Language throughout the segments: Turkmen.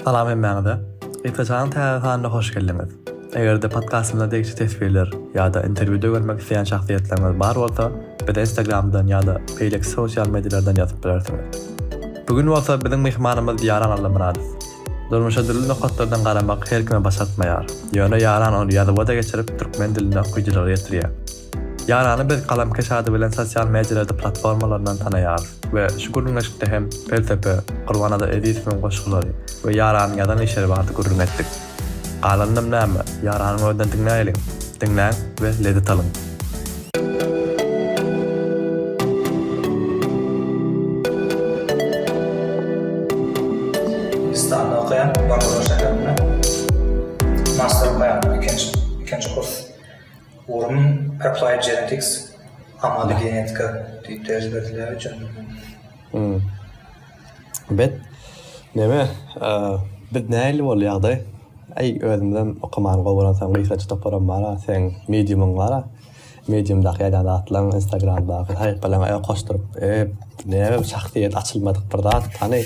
Salam hemmäňize! Gysgaçanyň täze sanyna hoş geldiňiz! Eger-de podkastymyza degişli teswirler ýa-da interwýuda görmek isleýän şahsyýetleriňiz bar bolsa, bize Instagramdan ýa-da beýleki sosial medialardan ýazyp bilersiňiz. Bu gün bolsa biziň myhmanymyz Ýaran Allamyradow. Durmuşa dürli nokatlardan garamak her kime başartmaýar. Ýöne Ýaran ony ýazuwa-da geçirip, türkmen diline okyjylara ýetirýär. Ýarany biz Galamkeş ady bilen sosial medialerde platformalaryndan tanaýarys we şu gürrüňdeşlikde hem Pelsepe, Gurbannazar Ezizowyň goşgulary we Ýaranyň ýazan işleri barada gürrüň etdik. Galanynam näme, Ýaranyň özünden diňläýeliň! Diňläň we lezzet alyň! Hindistanda okaýan, Bangalore şäherinde master okaýan, ikinji, ikinji kurs. Gorumyň Applied Genetics, Amaly genetika, diýip ders berdiler hocam. Bet, neme, biz nähili bol ýagdaý? Aý, özümizem okamany gowy görensoň gysgaça toparam bar-a, seň mediumyň bar-a, mediumdaky ýazýan zatlaryň, instagramdaky sahypalaryňy goşduryp, ep, näme şahsyýet açylmadyk bir zat hany.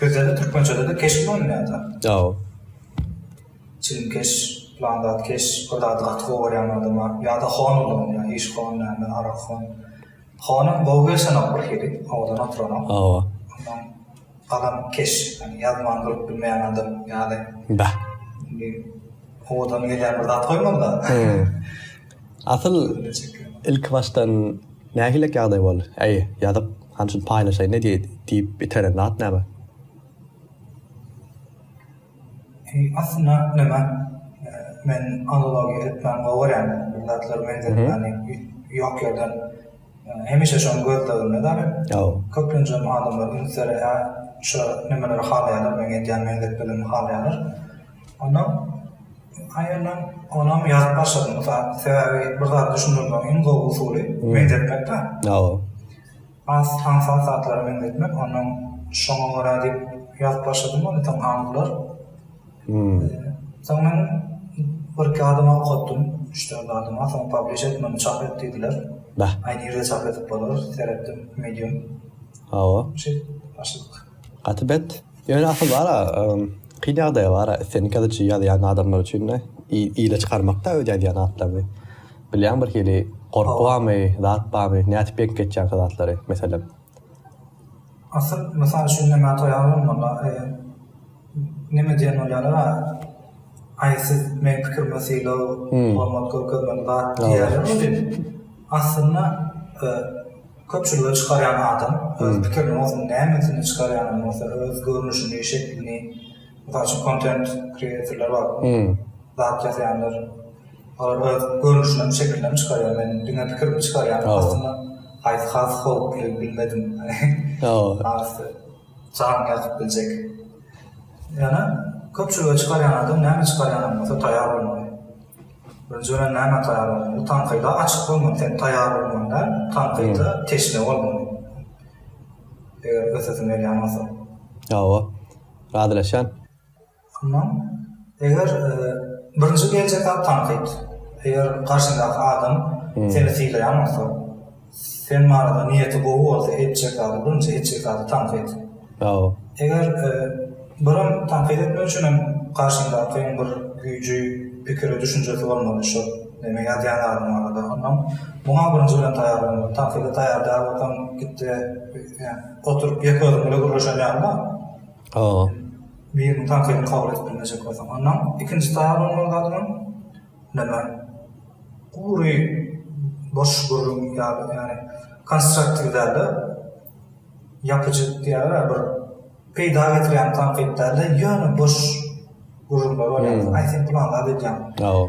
Sözlerde türkmençede-de keş ulanylýar da. Ýao. Çilimkeş, pylan zat keş, bir zady gaty gowy görýän adama ýa-da hon ulanylýar, iş hon, näme, arak hon. Honam gowy gelşenok bir hili, owadan oturanok. Hawa. Ondan galan keş, ýagny ýazman durup bilmeýän adam ýaly. Bäh. Indi owadan gelýän bir zat goýmaly-da. Asyl ilki başdan nähilek ýagdaý boldy? Äý, ýazyk, hany şuny paýlaşaýyn ne diýeýdi? diýip iteren zat näme? Äý, asyl zat näme? Men analogiýa etmäni gowy görýän, bir zatlar meňzedip ýören ýok ýerden. Hemişe şony gözleginde däli. Köplenjem adamlar ünsleri hä şo nemeleri halaýarlar meň edýän meňzetmelerimi halaýarlar. Onda aýalam onam ýazyp başlady. Mysal sebäbi bir zat düşündirmegiň iň gowy usuly meňzetmekdä. Hawa. Has hansy has zatlara meňzetmek ondan şoňa görä diýip ýazyp başladym ony soň aňyrlar. Soň men birki adama ok atdym, üç-dört adama, soň publish et muny çap et diýdiler. Aý nirde çap edip bolar, seretdim medium. Hawa. Şeýdip başladyk. Gaty bet. Ýöne asyl bar-a, kyn ýagdaýy bar-a, islendik ýazyjy ýazýan adamlar üçin-de ile çykarmakda öz ýazýan atlaryňy. Bilýäňmi birhili gorky barmy, zat barmy, nädip ýeňip geçýäň şo zatlary, meselem? Asyl mysal üçin Nemat Oýazow bolsa, Neme diyen olara ay siz men pikirime sylaw hormat görkezmeli zat diyerler welin aslynda köpçülige çykaryan adam öz pikirini bolsun nämesini çykaryanam bolsa öz görnüşini şeklini mysal üçin kontent kreatorlar bar zat yazayanlar olar öz görnüşini şekilini çykaryan men diňe pikirimi çykaryan aslynda haysy has howply bilmedim arasy. Çagyň ýatyp biljek. Ýöne köpçülige çykarýan adam näme çykarýanam bolsa taýar bolmaly. Birinji bilen nämä taýar bolmaly? Tankyda açyk bolmaly. Sen taýar bolmaly däl, tankyda teşne bolmaly. Eger ösesiň gelýän bolsa. Hawa. Razylaşýan. Onsoň, eger birinji geljek zat tankyt. Eger garşyňdaky adam seni sylaýan bolsa, sen barada niýeti gowy bolsa etjek zady, birinji etjek zady tankyt. Hawa. Eger birim tankyt etmek üçin hem garşyňdakyň bir güýji, pikiri, düşünjesi bolmaly şol neme ýazýan zadyň barada. Onsoň, muňa birinji bilen taýýarlanmaly. Tankyda taýýar däl bolsaň, git-de, ýa oturyp ýeke özüň bile gürleşen ýalyma. Aaa. Biriniň tankydyny kabul edip bilmejek bolsaň, onda ikinji taýar bolmaly zady bilen näme, gury boş gürrüň ýaly, ýagny konstruktiw däl-de, ýapyjy diýýärler-ä, bir peýda getirýän tankyt däl-de, ýöne boş gürrüňler bolýar. Aý, sen pylan zat edýäň. Aw.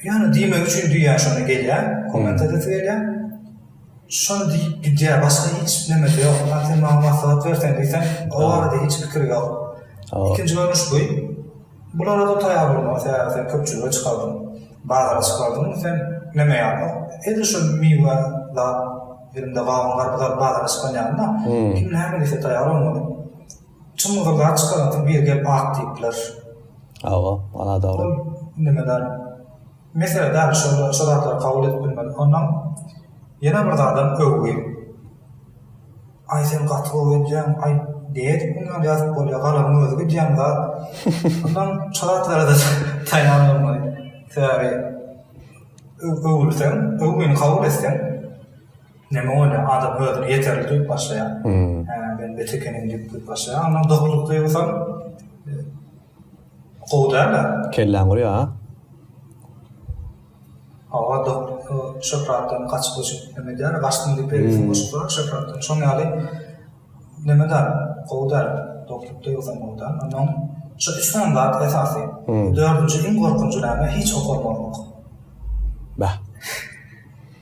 Ýöne diýmek üçin düýä şony gelýär, komment edesi gelýär. Şony diýip gidýär, başga hiç nemesi ýok. Ýa sen maňa maslahat berseň diýsem, o barada hiç pikiri ýok. Ikinji görnüş bu. Bulara-da taýar bolmaly, sebäbi sen köpçülige çykaldyň, bazara çykaldyň, sen neme ýalyňok. Edil şu miwe zat, elimde gawun, garpyz alyp bazara çykan ýalymda, kim näme diýse taýar bolmaly. Çym-gyzyl zat çykaransoň biri gelip ak diýip biler. Hawa, ol nimedar. Mesele däl şo şo zatlary kabul edip bilmedik ondan ýene bir zadam öwgi aý sen gaty gowy edýäň aý diýedik mundan ýazyp bolýa galamyň özi gidýän zat ondan şo zatlara-da taýýar bolmaly sebäbi öwülseň öwgini kabul etseň neme bolýa adam özüni ýeterli duýup başlaýar hä men bet ekenim diýip duýup başlaýar ondan dokduk duýgusam Gowy däl-ä. Kelläň guýa a. Hawa dok şöhratdan gaçyp öçüp neme edýäne gaçdym diýip beýlesini goşup duran şöhratdan şoň ýaly neme däl gowy däl doklukda ýogsam gowy däl onnoň şu üç sany zat esasy dördünji iň gorkunjy näme hiç okalmazlyk. Bäh.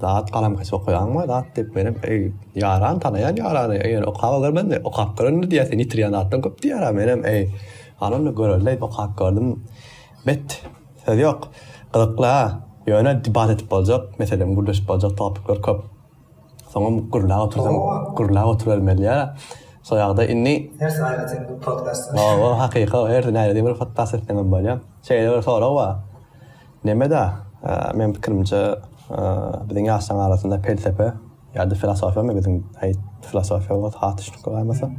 Zat galamkeş okaýaňmy zat diýip menem eý ýaran tanaýan ýarany eýer okap görmezmi okap görende diýýä sen ýitirýän zatlaň köp diýýärä menem eý hany onda göreli diýip okap gördüm bet söz ýok gyzykly a ýöne debat edip boljak meselem gürleşip boljak topikler köp soňam gürläp otursam gürläp oturybermeliä soýagda indi hersi aýratyn bir podkast hakyka hersi aýratyn bir podkast etseňem bolýa şeýle bir sorag bar. Neme-da, meniň pikirimçe, biziň ýaşlaryň arasynda pelsepe ýa-da filosofiyamy biziň, aý, filosofiýa bolsa has düşnükli bolmasa.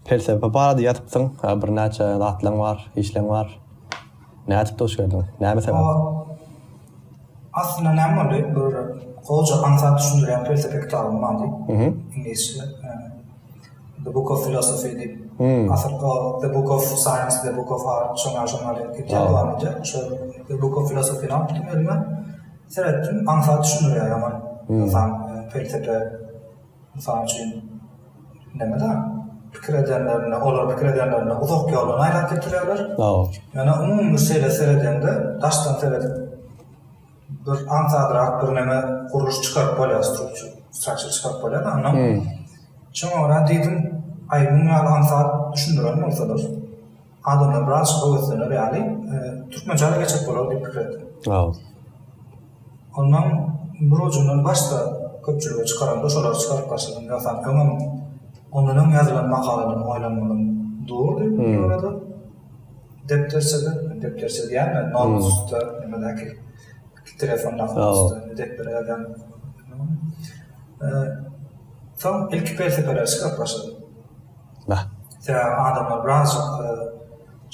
Pelsepe barada ýazypsyň, birnäçe zatlaň bar, işleň bar. Nädip duş geldiň? Näme sebäpden? Aslynda näme boldy? Bir goja aňsat düşündirýän pelsepe kitabym bardy. Iňlisçe. The Book of Philosophy diýip, asyl o The Book of Science, The Book of Art şoňa şoňa diýip gitýär dowam edýär. Şol The Book of Philosophy-ni alypdym elime. Seretdim, aňsat düşündirýär ýaman. Ynsan pelsepe mysal üçin näme-de pikir edenlerinde, olar pikir edenlerinde uzak ýoldan aýlap getirýärler. Ýöne umumy şeýle seredende, daşdan seredip bir aňsadrak bir näme gurluş çykaryp bolýar struktur struktur çykaryp bolýar da ondan şoňa görä diýdim aý muň ýaly aňsat düşündiren bolsalar adamlar biraz höweslener ýaly e, türkmençe de geçip bolar diýip pikir etdim ondan bir ucundan başda köpçülige çykaranda şolary çykaryp başladym ýogsam öňem ondan öň ýazylan makalalarym oýlanmadym durdy hmm. Depderçede, depderçe diýýärmi, nogla üstde nimedäki telefon nogla üstde depdere ýazýan. Soň ilki pelsepeler çykyp başlady. Bah. Sebäbi adamlar biraz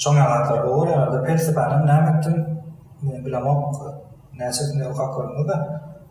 şoň ýalatlar gowy ýa-da pelsepäniň näme etdim, men bilemok, näçesini okap gördüňiz-de.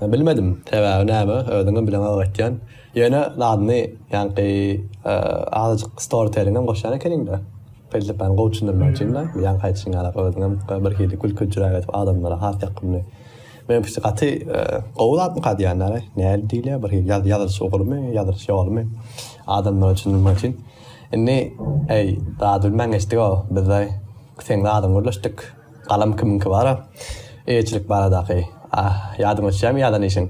Bilmedim, sebäbi näme, özüňem bileňok öýtýän. Ýöne zadyny, ýaňky azajyk storytelliňem goşýan ekeniň-dä. Pelsepäni gowy düşündirmek üçin-dä. Bu ýaňky aýdyşyň ýaly, özüňem birhili gülküljüräk edip adamlara has ýakymly. Meňpikçe gaty gowy zatmyka diýýänler-ä. Nädip diýilýär, birhili ýazylyş ugrumy, ýazylyş ýolumy adamlara düşündirmek üçin. Indi, heý, zady bilmän geçdik-ow, biz-de seň zadyňy gürleşdik. Galam kimiňki bar-a? Eýeçilik baradaky. Ah, ýadyňa düşýärmi ýazan işiň?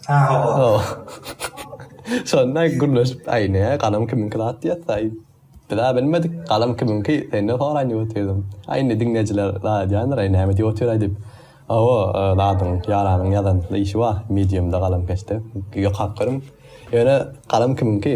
Hawa. Şonda gürleşip, aý, ne, galam kimiňki zat diýýäs-aý. Biz-ä bilmedik, galam kimiňki, senden soraýyn diýip otyrym. Aý, indi diňleýjiler zat edýändir, aý, näme diýip otyr-aý diýip. Hawa, zadyň, ýaranyň ýazan işi bar, medium-da, galamkeşde. Ýokap görüň. Ýöne, galam kimiňki?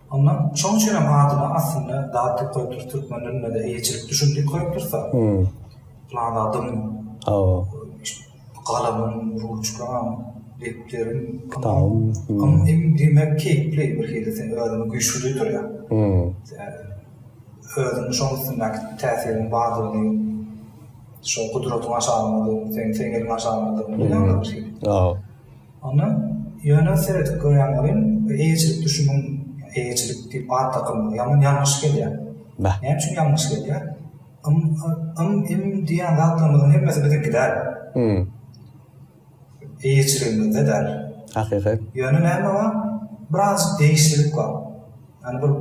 Onda şoň üçinem adyna aslynda zat diýip goýupdyrys türkmen dilinde-de eýeçilik düşün diýip goýupdyrys-a. Pylan zadyň, hawa, galamym, ruçkam, depderim, kitabym, ym diýmek keýpli bir hili sen özüňi güýçli duýdurýar. Özüňi şoň üstündäki täsiriň bardygyny, şol gudratyň aşalanmadygyny, seň teňňeliň aşalanmadygyny duýýaňdyr bir hili. Onda ýöne seredip görýän welin bu eýeçilik düşümiň eýeçilik diýip at dakylmagy ýaman ýalňyş gelýär. Näme üçin ýalňyş gelýär? Ym, ym, im diýýän zatlarymyzyň hemmesi biziňki däl. Eýeçiligimizde däl. Hakykat. Ýöne näme bar? Birazjyk degişlilik bar. Ýani bir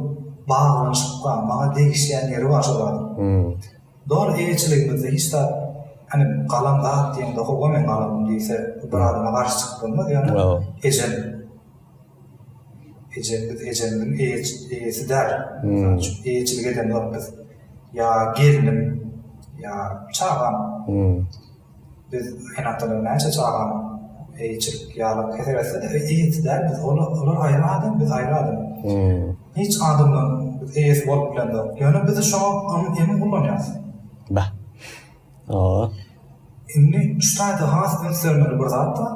baglanyşyk bar. Maňa degişýän ýeri bar şol zadyň. Dogry eýeçiligimizde hiç zat hani galan zat diýende howa men galamyn diýse bir adama garşy çykyp bolmaz ýöne ejem ejem biz ejemiziň eýesi däl eýeçilik edemzok biz ýa gelnim ýa çagam Biz her haftada näçe çaganyň eýeçilik ýalyk hesap etsek biz eýesi däl biz olar aýry adam biz aýry adam hiç adamdan biz eýesi bolup bilemzok ýöne biz şoňa emin ulanýas. Bäh. Ooo. Indi şu taýda has ünslenmeli bir zat bar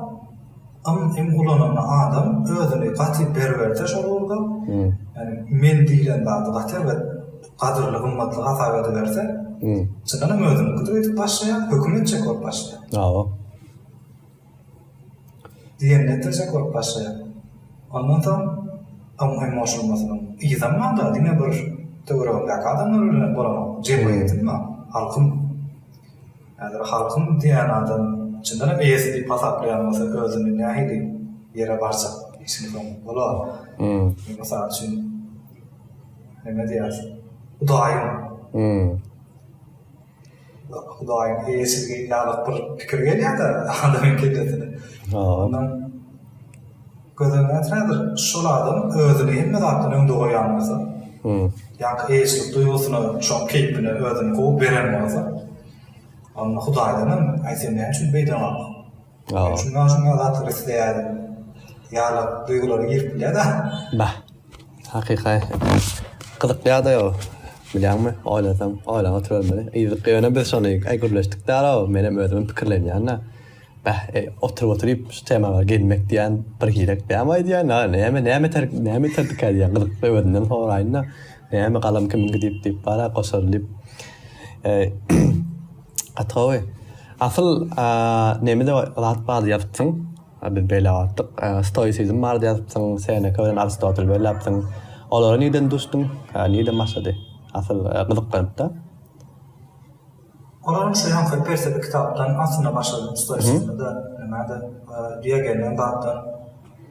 ym im ulananda adam özüni gaty berberde şol ugurda ýani men diýlen zady gaty erbet gadyrly gymmatly hasap ediberse, çyndanam özüniňkidir öýdüp başlaýar, höküm etjek bolup başlaýar. Hawa. Diýenini etdirjek bolup başlaýar. Ondan soň onuň emoşylmasynyň yzam bar-da, diňe bir töweregindäki adamlar bilen bolanok, jemgyýetiň bar, halkyň. Häzir halkyň diýen adam çyndanam eýesi diýip hasaplaýan bolsa özüni nähili ýere barjak işiň soňy bolar. Mysal üçin, Näme diýersiň? Hudaýyň. Hum. Hudaýyň eýesizligi ýaly bir pikir gelýär-de adamyň kellesine. Ondan gözel näträdir, şol adam özüni hemme zatdan öňde goýan bolsa, ýa-da eýeçilik duýgusyna şoň keýpine özüni gowy beren bolsa, onda Hudaýdan hem, aýt sen näme üçin beýdemok? Şundan soň ol atyp isleýär. Ýaly duýgulary girip bilýär da. Bah. Hakyky. Gyzykly ýagdaý o. Bilýäňmi, oýlasaň, oýlap oturybermeli. Yzyk ýöne biz şony aý gürleşdik däl-ow, menem özümem pikirlenýän-ä. Bäh, eý, oturyp-oturyp şu temaga gelmek diýýän bir girek dälmi aýdýan? A, näme, näme iter, näme iterdikä diýýän, gyzykly özünden soraýyn-da. Näme galam kimin gidip diýip bar-a goşar diýip. Eý, Gaty gowy. Asyl nemede zat bar ýazypsyň. Biz beýle atdyk. Stoisizm bar ýazypsyň. Seneka bilen Aristotel belläpsiň. Olara nirden düşdüň? Nirden başlady? Asyl gyzyklanypda. Olaryň üçin hem şol pelsepe kitapdan aslynda başladym. Stoisizmde näme-de Diogenden zatdan.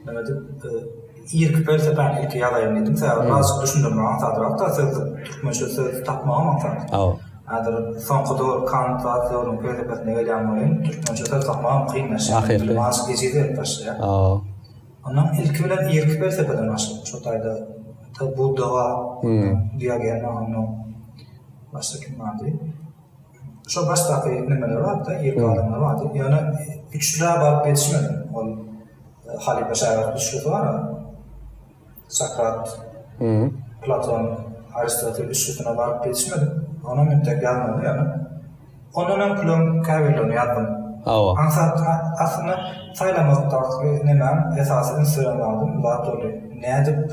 Näme diýip, irki pelsepäni ilki ýazaýyn diýdim. Sebäbi azyk düşündirmek aňsadrakda, sözlük, türkmençe söz tapmagam aňsat. Häzir soňky döwür Kant zat döwrüniň pelsepesine gelýän welin, türkmençe söz tapmagam kynlaşýar. Dilim azyk ejiz berip başlaýar. Ondan ilki bilen irki pelsepeden başladyk. Şo taýda Budda bar, Diogene, ondan başga kim bardy? Şo başdaky nemeler bardy, ýeke adamlar bardy. Ýöne üçlä baryp ýetişmedim. Ol e, halypa şägirt üçlüsi bar. Sokrat, Platon, Aristotel üçlüsine baryp ýetişmedim. Onam entek ýazmaly ýöne. Ondan hem külüm käbirlerini ýazdym. Hawa. Aňsat aslynda saýlamakda neme esasy üns beren zadyň zat boldy. Nädip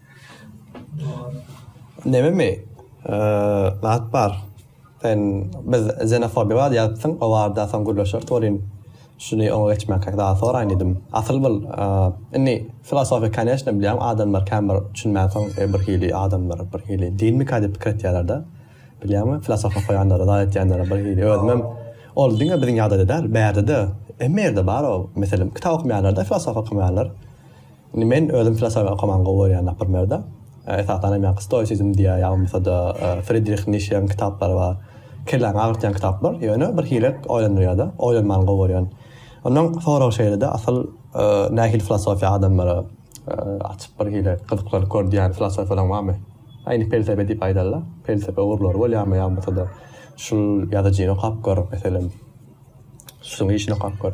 Nememi? Zat bar. Sen biz zenofobiýa bar diýýärdiň, o barada soň gürleşeris welin, şuny oňa geçmänkäk zat soraýyn diýdim. Asyl bul, indi filosofiýa koneçne bilýän adamlar kän bir düşünmänsoň birhili adamlar birhili dinmika diýip pikir etýärler-de. Bilýäňmi, filosofiýa okaýanlara zat etýänlere birhili özümem ol diňe biziň ýagdaýda däl, bärde-de hemme ýerde bar ol mesele. Kitap okamaýarlar-da, filosofiýa okamaýarlar. Indi men özüm filosofiýa okamany gowy görýän napyrmerde. Esasanam ýaňky stoisizm diýýär, ýagmasa-da Fridrih Nişeň kitaplary bar. Kelläňi agyrtýan kitaplar, ýöne bir hilek oýlandyrýar-da. Oýlanmany gowy görýän. Onnoň sorag şeýle-de, asyl nähili filosofiýa adamlara açyp bir hile gyzyklanyp gör diýýän filosofiýalaň barmy? A indi pelsepe diýip aýdar-la. Pelsepe ugurlary bolýarmy ýagmasa-da şul ýazyjyny okap gör, meselem, şunuň işini okap gör.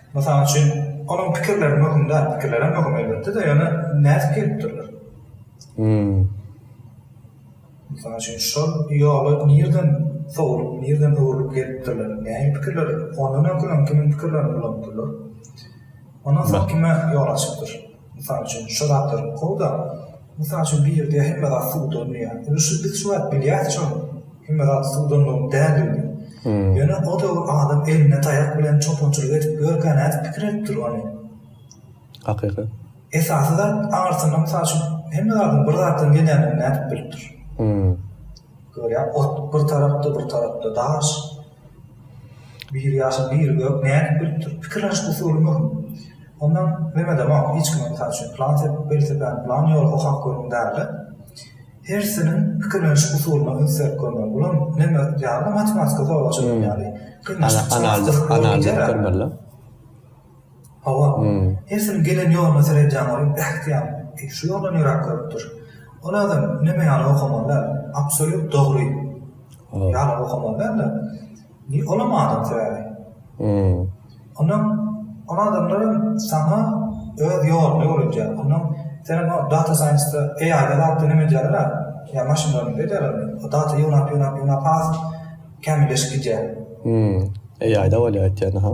Mysal üçin, onuň pikirleri möhüm däl, pikirlerem möhüm elbetde-de, ýöne nädip gelipdirler? Hum. Mysal üçin, şol ýola nirden sowlup, nirden öwrülip gelipdirler? Nähili pikirler, ondan öňküleň kimin pikirlerini ulanypdyrlar? Ondan soň kime ýol açypdyr? Mysal üçin, şo zatlary kow-da, mysal üçin, bir ýerde hemme zat suwdan diýýär. Indi şu biz şu wagt bilýärisem, hemme zat suwdanlygyň däldigini. Ýöne o döwür adam eline taýak bilen çopançylyk edip ýörkä nädip pikir edipdir ony? Hakykat. Esasy zat, aňyrsynda mysal üçin, hemme zadyň bir zatdan gelýändigini nädip bilipdir? Görýäňmi, ot bir tarapda, bir tarapda daş. Bir ýaşyl bir gök nädip bilipdir? Pikir alyş usuly möhüm. Ondan Memedemak hiç kime mysal üçin plan sepip welosipedini plan ýola okap görüň dälde. Hersiniň pikirleniş usulyna üns berip görmeli. Bulam neme ýaly matematika zorlaşyr ýaly. Gynanç. Analiz analiz edip görmeli. Hawa, hersin gelen ýoluna seredýän bolup bähtiýar, eý, şu ýoldan ýöräp görüpdir. Ol adam neme ýaly okamaly däl, absolýut dogry ýaly okamaly däl-de, bi olam adam sebäbi. Ondan ol adamlar hem saňa öz ýoluny öwredýär. Ondan senem o data saýnsda, AI-da zatda neme edýärler-ä, ýa maşynlarynda edýärler, o data ýygnap, ýygnap, ýygnap has kämilleşip gidýär. AI-da bolýar aýtýanyň-ha.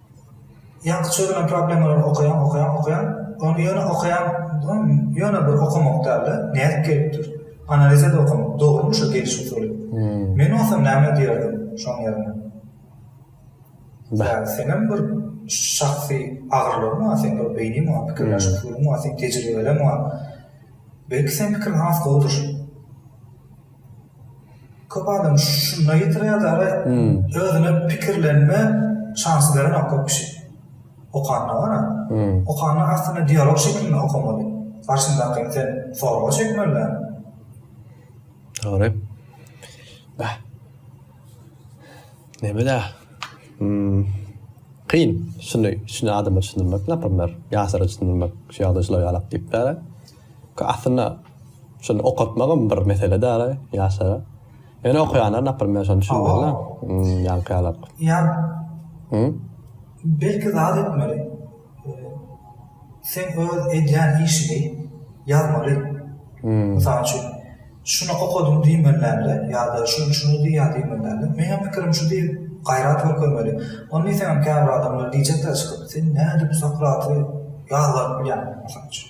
Ýaňky çözülen problemalary okaýaň, okaýaň, okaýaň, ony ýöne okaýaň, ýöne bir okamak däl-de, nädip gelipdir, analiz edip okamak, dogrymy şo geliş usuly? Men bolsam näme diýerdim şoň ýerine? Beh, senem bir şahsy agyrlygyň bar, seň bir beýniň bar, pikirläş usulyň bar, seň tejribeleň bar. Belki seň pikiriň has gowudyr. Köp adam şunda ýitirýär dagy özüne pikirlenme şansy berenok köp kişi. Okanda gara. Okanda aslynda dialog şeklinde okamaly. Garşyndakyny sen sorga çekmeli däl. Dogry. Bah. Neme da? Kyn şuny şuny adama düşündirmek napyrlar. Ýaşlara düşündirmek şu ýagdaý şular ýalak diýip däl. Aslynda şuny okatmagam bir mesele däl-a ýaşlara. Ýöne okaýanlar naprimýer şony düşünmeli-de. Hum, ýaňky ýalak. Ýan. Hum? Belki zat etmeli. Sen öz edýän işiňi ýazmaly. Hum. Mysal üçin, şuny okadym diýmelilämde ýa-da şuny şuny diýýär diýmelilämde. Meňem pikirim şu diýip gaýrat görkezmeli. Ony diýseňem käbir adamlar diýjekler çykyp, sen nädip Sokraty ýazgaryp bilýäň? Mysal üçin.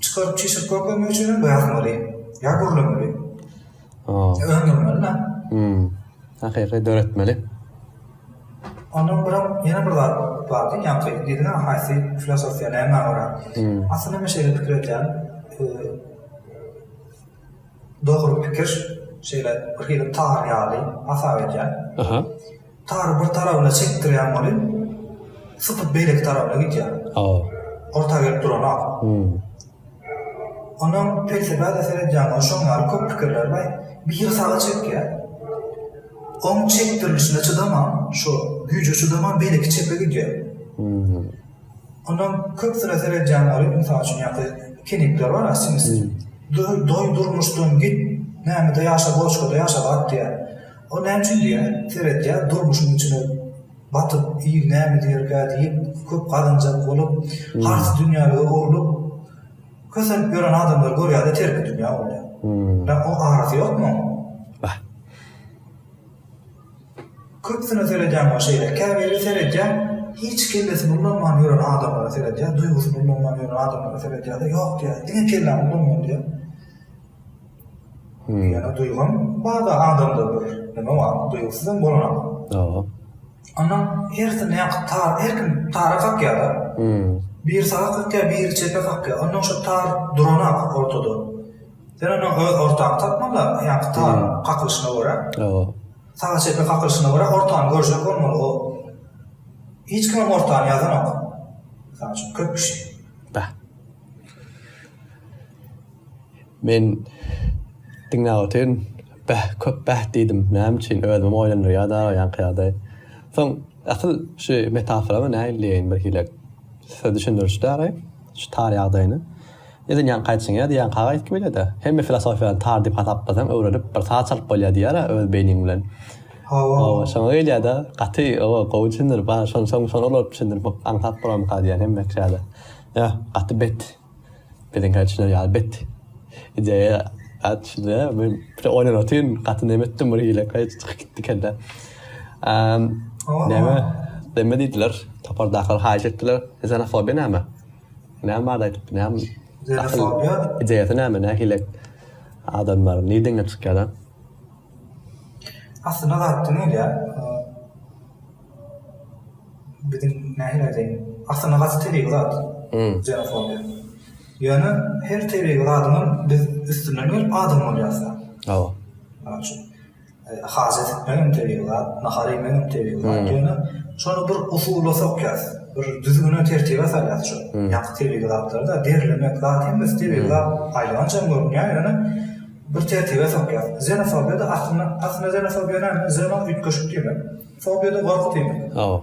Çykaryp çişirip görkezmek üçin hem ýazmaly. Ýa gürlemeli. Öndürmeli-dä. Hakyky döretmeli. Ondan gürem ýene bir zat bardy, ýaňky diýdiňä haýsy filosofiýa nämä görä. Aslynda men şeýle pikir edýän, dogry pikir şeýle birhili tar ýaly hasap edýän. Tary bir tarabyna çekdirýäň ony, sypyp beýleki tarabyna gidýär. Orta gelip duranok. Onam pelsepä-de seredýäň, ony şoň ýaly köp pikirleri bar. Biri saga çekýär. Oň çekdirilişine çydaman, şo güýje çydaman beýleki çepe gidýär. Onam köpüsine seredýäň ony, mysal üçin ýa-da kenikler bar-a siňlisi. Doý, durmuşdan git, nämede ýaşa, boloçkada ýaşa bak diýýär. O näme üçin diýýär, seretýär, durmuşyň içine batyp, il näme diýerkä diýip, köp gazanjak bolup, has dünýälige urlup, kösenip ýören adamlary görýär-de, terki dünýä bolýar. Ýa o arasy ýokmy oň? Bah. Köpüsine seredýän bolsa şeýle. Käbiri seredýär, hiç kellesini ulanman ýören adamlara seredýär, duýgusyny ulanman ýören adamlara seredýär-de, ýok diýýär, diňe kelläňi ulanmaly diýýär. Ýöne duýgam barda adamda bir neme bar duýgusyzam bolanok. Ýok. Onda hersi nähak tar her kim tara kakýada. Biri saga kakýa biri çepe kakýa onda şo tar duranok ortada. Sen onda öz ortaňy tapmanda ýaňky tar kakylyşyna görä. Ýok. Saga çepe kakylyşyna görä ortany görjek bolmaly o. Hiç kimem ortany ýazanok. Mysal üçin köp kişi. Bäh. Men diňläp otyryn. Bäh, köp bäh diýdim. Näme üçin? Özümem oýlandyrýardy aga ýaňky ýagdaý. Soň, asyl şu metaforamy nähili diýeýin birhili size düşündiriji däraý şu tar ýagdaýyny. Neden ýaňky aýtjyň ýa diýýän kaga aýtgy beýlede. Hemme filosofiýany tar diýip hasaplasaň öwrenip bir saz çalyp bolýar diýýärä öz beýniň bilen. Hawa, şoňa gelýärde. Gaty oba gowy düşündirip, şony şoňa ulalyp düşündirip aňsat bolarmyka diýýän hemme kişä-de. Ýa, gaty bet. Biziň häçiler ýaly bet ideýa atçydy. Men bir oýlan otyryn, gaty neme etdim bir hile kaý çykyp gitdi kelle. Neme, neme diýdiler, topardakylar haýyş etdiler. Xenofobiýa näme? Näme barada aýdyp, näme? Xenofobiýa? Ideýasy näme, nähili adamlar, nirden gelip çykýar-a? Aslynda zat diňe ýa biziň nähili aýdaýyn, aslynda gaty tebigy zat ksenofobiýa. Ýöne her tebigy zadyňam biz üstünden gelip adam bolýarys da. Hawa. Mysal üçin, hajat etmek hem tebigy zat, nahar iýmek hem tebigy zat. Ýöne şony bir usula sokýarys, bir düzgüne, tertibe salýarys şo ýaňky tebigy zatlary-da. Derlemek zat hem biz tebigy zat aýlanjam görünýär, ýöne. Bir tertibe sokýar. Zenofobiýada aslynda aslynda zenofobiýa näme? Zeno üýtgeşik diýmek. Fobiýada gorky diýmek. Hawa.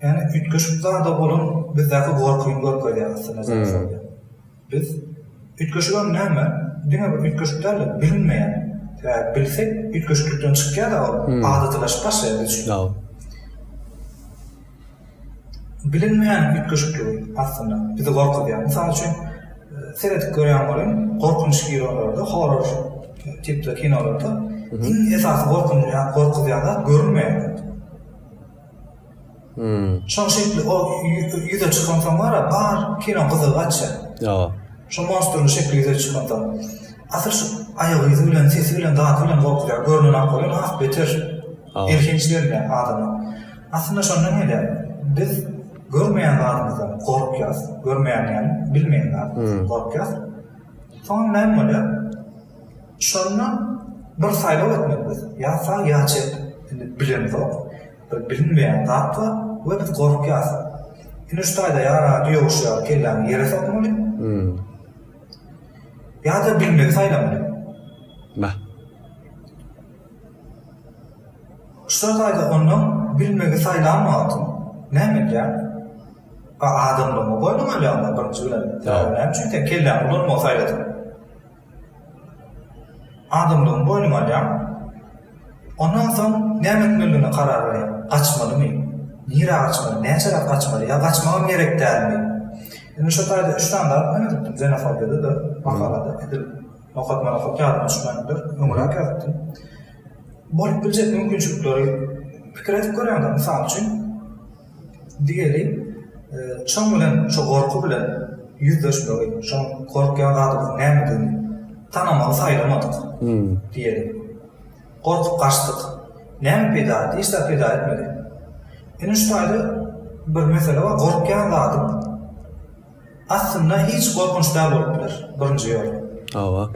Ýani üýtgeşik zada bolan bizdäki gorkyny görkezýär aslynda zenofobiýa. Biz üýtgeşigem näme? Diňe bir üýtgeşik däl-de bilinmeýän. Sebäbi bilsek üýtgeşiklikden çykýar-a ol adatylaşyp başlaýar biz üçin. Hawa. Bilinmeýän üýtgeşikligiň aslynda bizi gorkuzýar. Mysal üçin, seredip görýän boluň, gorkunç kinolarda, horror tipli kinolarda iň esasy gorkunýan, gorkuzýan zat görünmeýän zat. Şoňa şekli ol ýüze çykansoň bar-a, bar kino gyzygy gaçýar. Ýa. Şo monstruň şekli ýüze çykansoň. Asyl şu aýak yzy bilen, sesi bilen, dady bilen gorkuzýar. Görnenok bolýar, has beter elhenç görünýär adama. Aslynda şondan gelýär. Biz görmeýän zadymyzdan gorkýarys. Görmeýän ýaly, bilmeýän zadymyzdan gorkýarys. Soň näme bolýar? Şonda bir saýlaw etmeli biz. Ýa sag, ýa çep. Indi bilemzok. Bir bilinmeýän zat bar we biz gorkýarys. Indi şu taýda ýa radio ýowşaýar, kelläňi ýere sokmaly. Ýa-da bilmegi saýlamaly. Bah. Şular taýda ondan bilmegi saýlan wagtym näme edýäň? A adamlygyňy boýnuňa alýaňda birinji bilen. Sebäbi näme üçin sen kelläňi ulanmagy saýladyň? Adamlygyňy boýnuňa alýaň. Ondan soň näme etmelidigine karar berýäň. Gaçmalymy? Nirä gaçmaly? Näçeräk gaçmaly? Ýa gaçmagam gerek dälmi? Indi şu taýda üç sany zat men edipdim, zenofobiyada-da, makalada edil. Okatmaly hut ýadyma düşmändir, öňräk ýazypdym. Bolup biljek mümkinçilikleri pikir edip görýäňdir. Mysal üçin, diýeli, çöň bilen şo gorky bilen ýüzleşmegi, şoň gorkýan zadymyzyň nämedigini tanamagy saýlamadyk diýeli. Gorkup gaçdyk. Näme peýda etdi? Hiç zat peýda etmedi. Ine şu taýda bir mesele bar, gorkýan zadyň, Aslynda hiç gorkunç dal bolup biler. Birinji ýol. Hawa.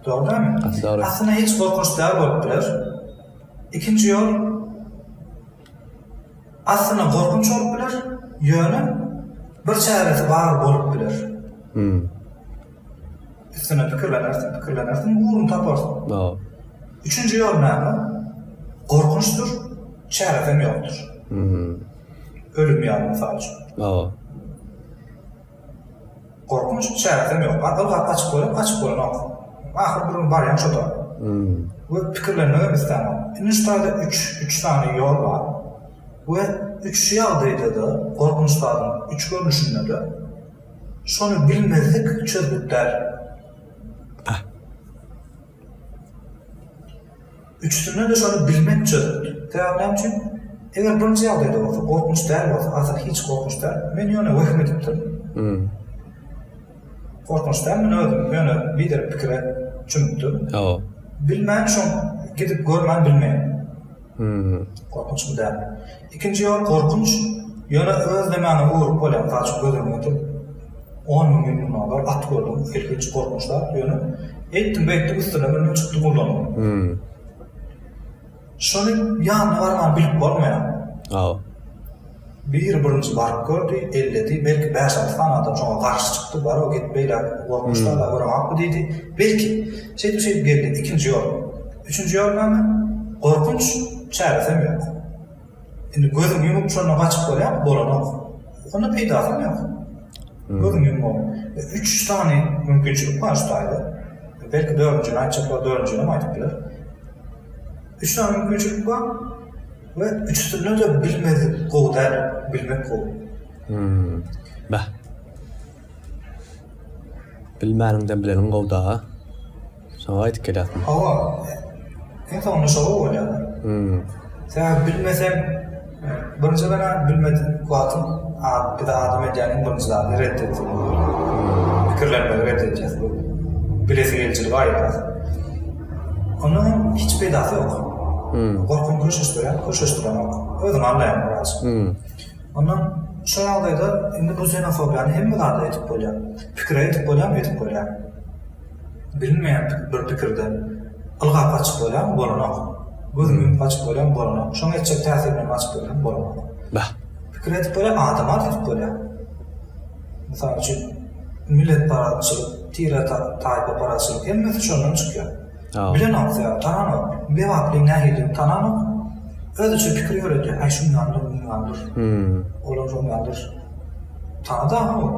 Dogry dämi? Asla. Aslynda hiç gorkunç dal bolup biler. Ikinji ýol. Aslynda gorkunç bolup biler. Ýöne bir çäresi bar bolup biler. Hmm. Üstüne pikirlenersiň, pikirlenersiň, ugrun taparsyň. Hawa. Üçünji ýol näme? Gorkunçdyr, çäresem ýokdur. Hmm. Ölüm ýaly, mysal üçin. Hawa. Gorkunç, çäresem ýok. Gaty ylgap gaçyp görüp, gaçyp bolanok. Ahyry bir gün barýan şo-da. We pikirlenmegem islämok. Indi şu taýda üç, üç sany ýol bar. We üç ýagdaýda-da, gorkunç zadyň üç görnüşinde-de şony bilmezlik çözgüt däl. Üçüsinde-de şony bilmek çözgüt. Sebäbi näme üçin? Eger birinji ýagdaýda bolsa, gorkunç däl bolsa, asyl hiç gorkunç däl, men ýöne wehim edipdirin. Gorkunç däl, men özüm ýöne biderek pikire çümüpdirin. Bilmän şoň gidip görmän bilmeýän. Gorkunçmy däl. Ikinji ýol gorkunç, ýöne öz demände öwrüp bolýan zat şu göz öňüňe getir, on müň ýyl mundan ozal at gördüň ilkinç gorkunç zat, ýöne eýtdiň beýtdiň üstüne mündiň çykdyň gullanyň. Şony ýanyna barman bilip bolmaýar. Biri birinji baryp gördi, elledi, belki bäş-alty sany adam şoňa garşy çykdy, bar-ow git beýläk, gorkmuşlar la göreňokmy diýdi, belki, şeýdip-şeýdip geldi, ikinji ýol, üçünji ýol näme, gorkunç, çäresem ýok. Indi gözüňi ýumup şondan gaçyp bolýarmy, bolanok. Onda peýdasam ýok. Gözüňi ýummagyň. E, üç sany mümkinçilik bar şu taýda. Belki dördünjini aýtjaklar, dördünjinem aýdyp biler. Üç sany mümkinçilik bar. We üçüsinde de bilmedik gowy däl, bilmek gowy. Hmmm. Beh. Bilmäniňden bileniň gowy daga. Şoňa gaýdyp gelýärsiň. Hawa. Iň soňunda şo gowy bolýar. Hmmm. Sebäbi bilmeseň, birinji gara bilmedik wagtyň bir zat adam edýäniň birinji zady ret etmek bolar. Pikirlenmegi ret edýär. Bilesi geljiligi aýyrýar. Onda hem hiç peýdasy ýok. Gorkyny köşeşdirýän, köşeşdirenok. Özüňi alýaýyň biraz. Onda şo ýagdaýda indi bu zenofobiýany hemme zada edip bolýar. Pikire edip bolýarmy? Edip bolýar. Bilinmeýän bir pikirde ylgap gaçyp bolýarmy? Bolanok. Gözüňi ýumup gaçyp bolýarmy? Bolanok. Şoň etjek täsirine gaçyp bolýarmy? Bolanok. Pikir edip bolýar, adama-da edip bolýar. Mysal üçin, milletparazçylyk, tiretat-taýpaparaçylyk hemmesi şondan çykýar. Bilenok sebäp, tananok. Bebaplyň nähilidigini tananok. Özüçe pikir ýöredýär, Äý, şundandyr, mundandyr. Olam şondandyr. Tanadagyň ol.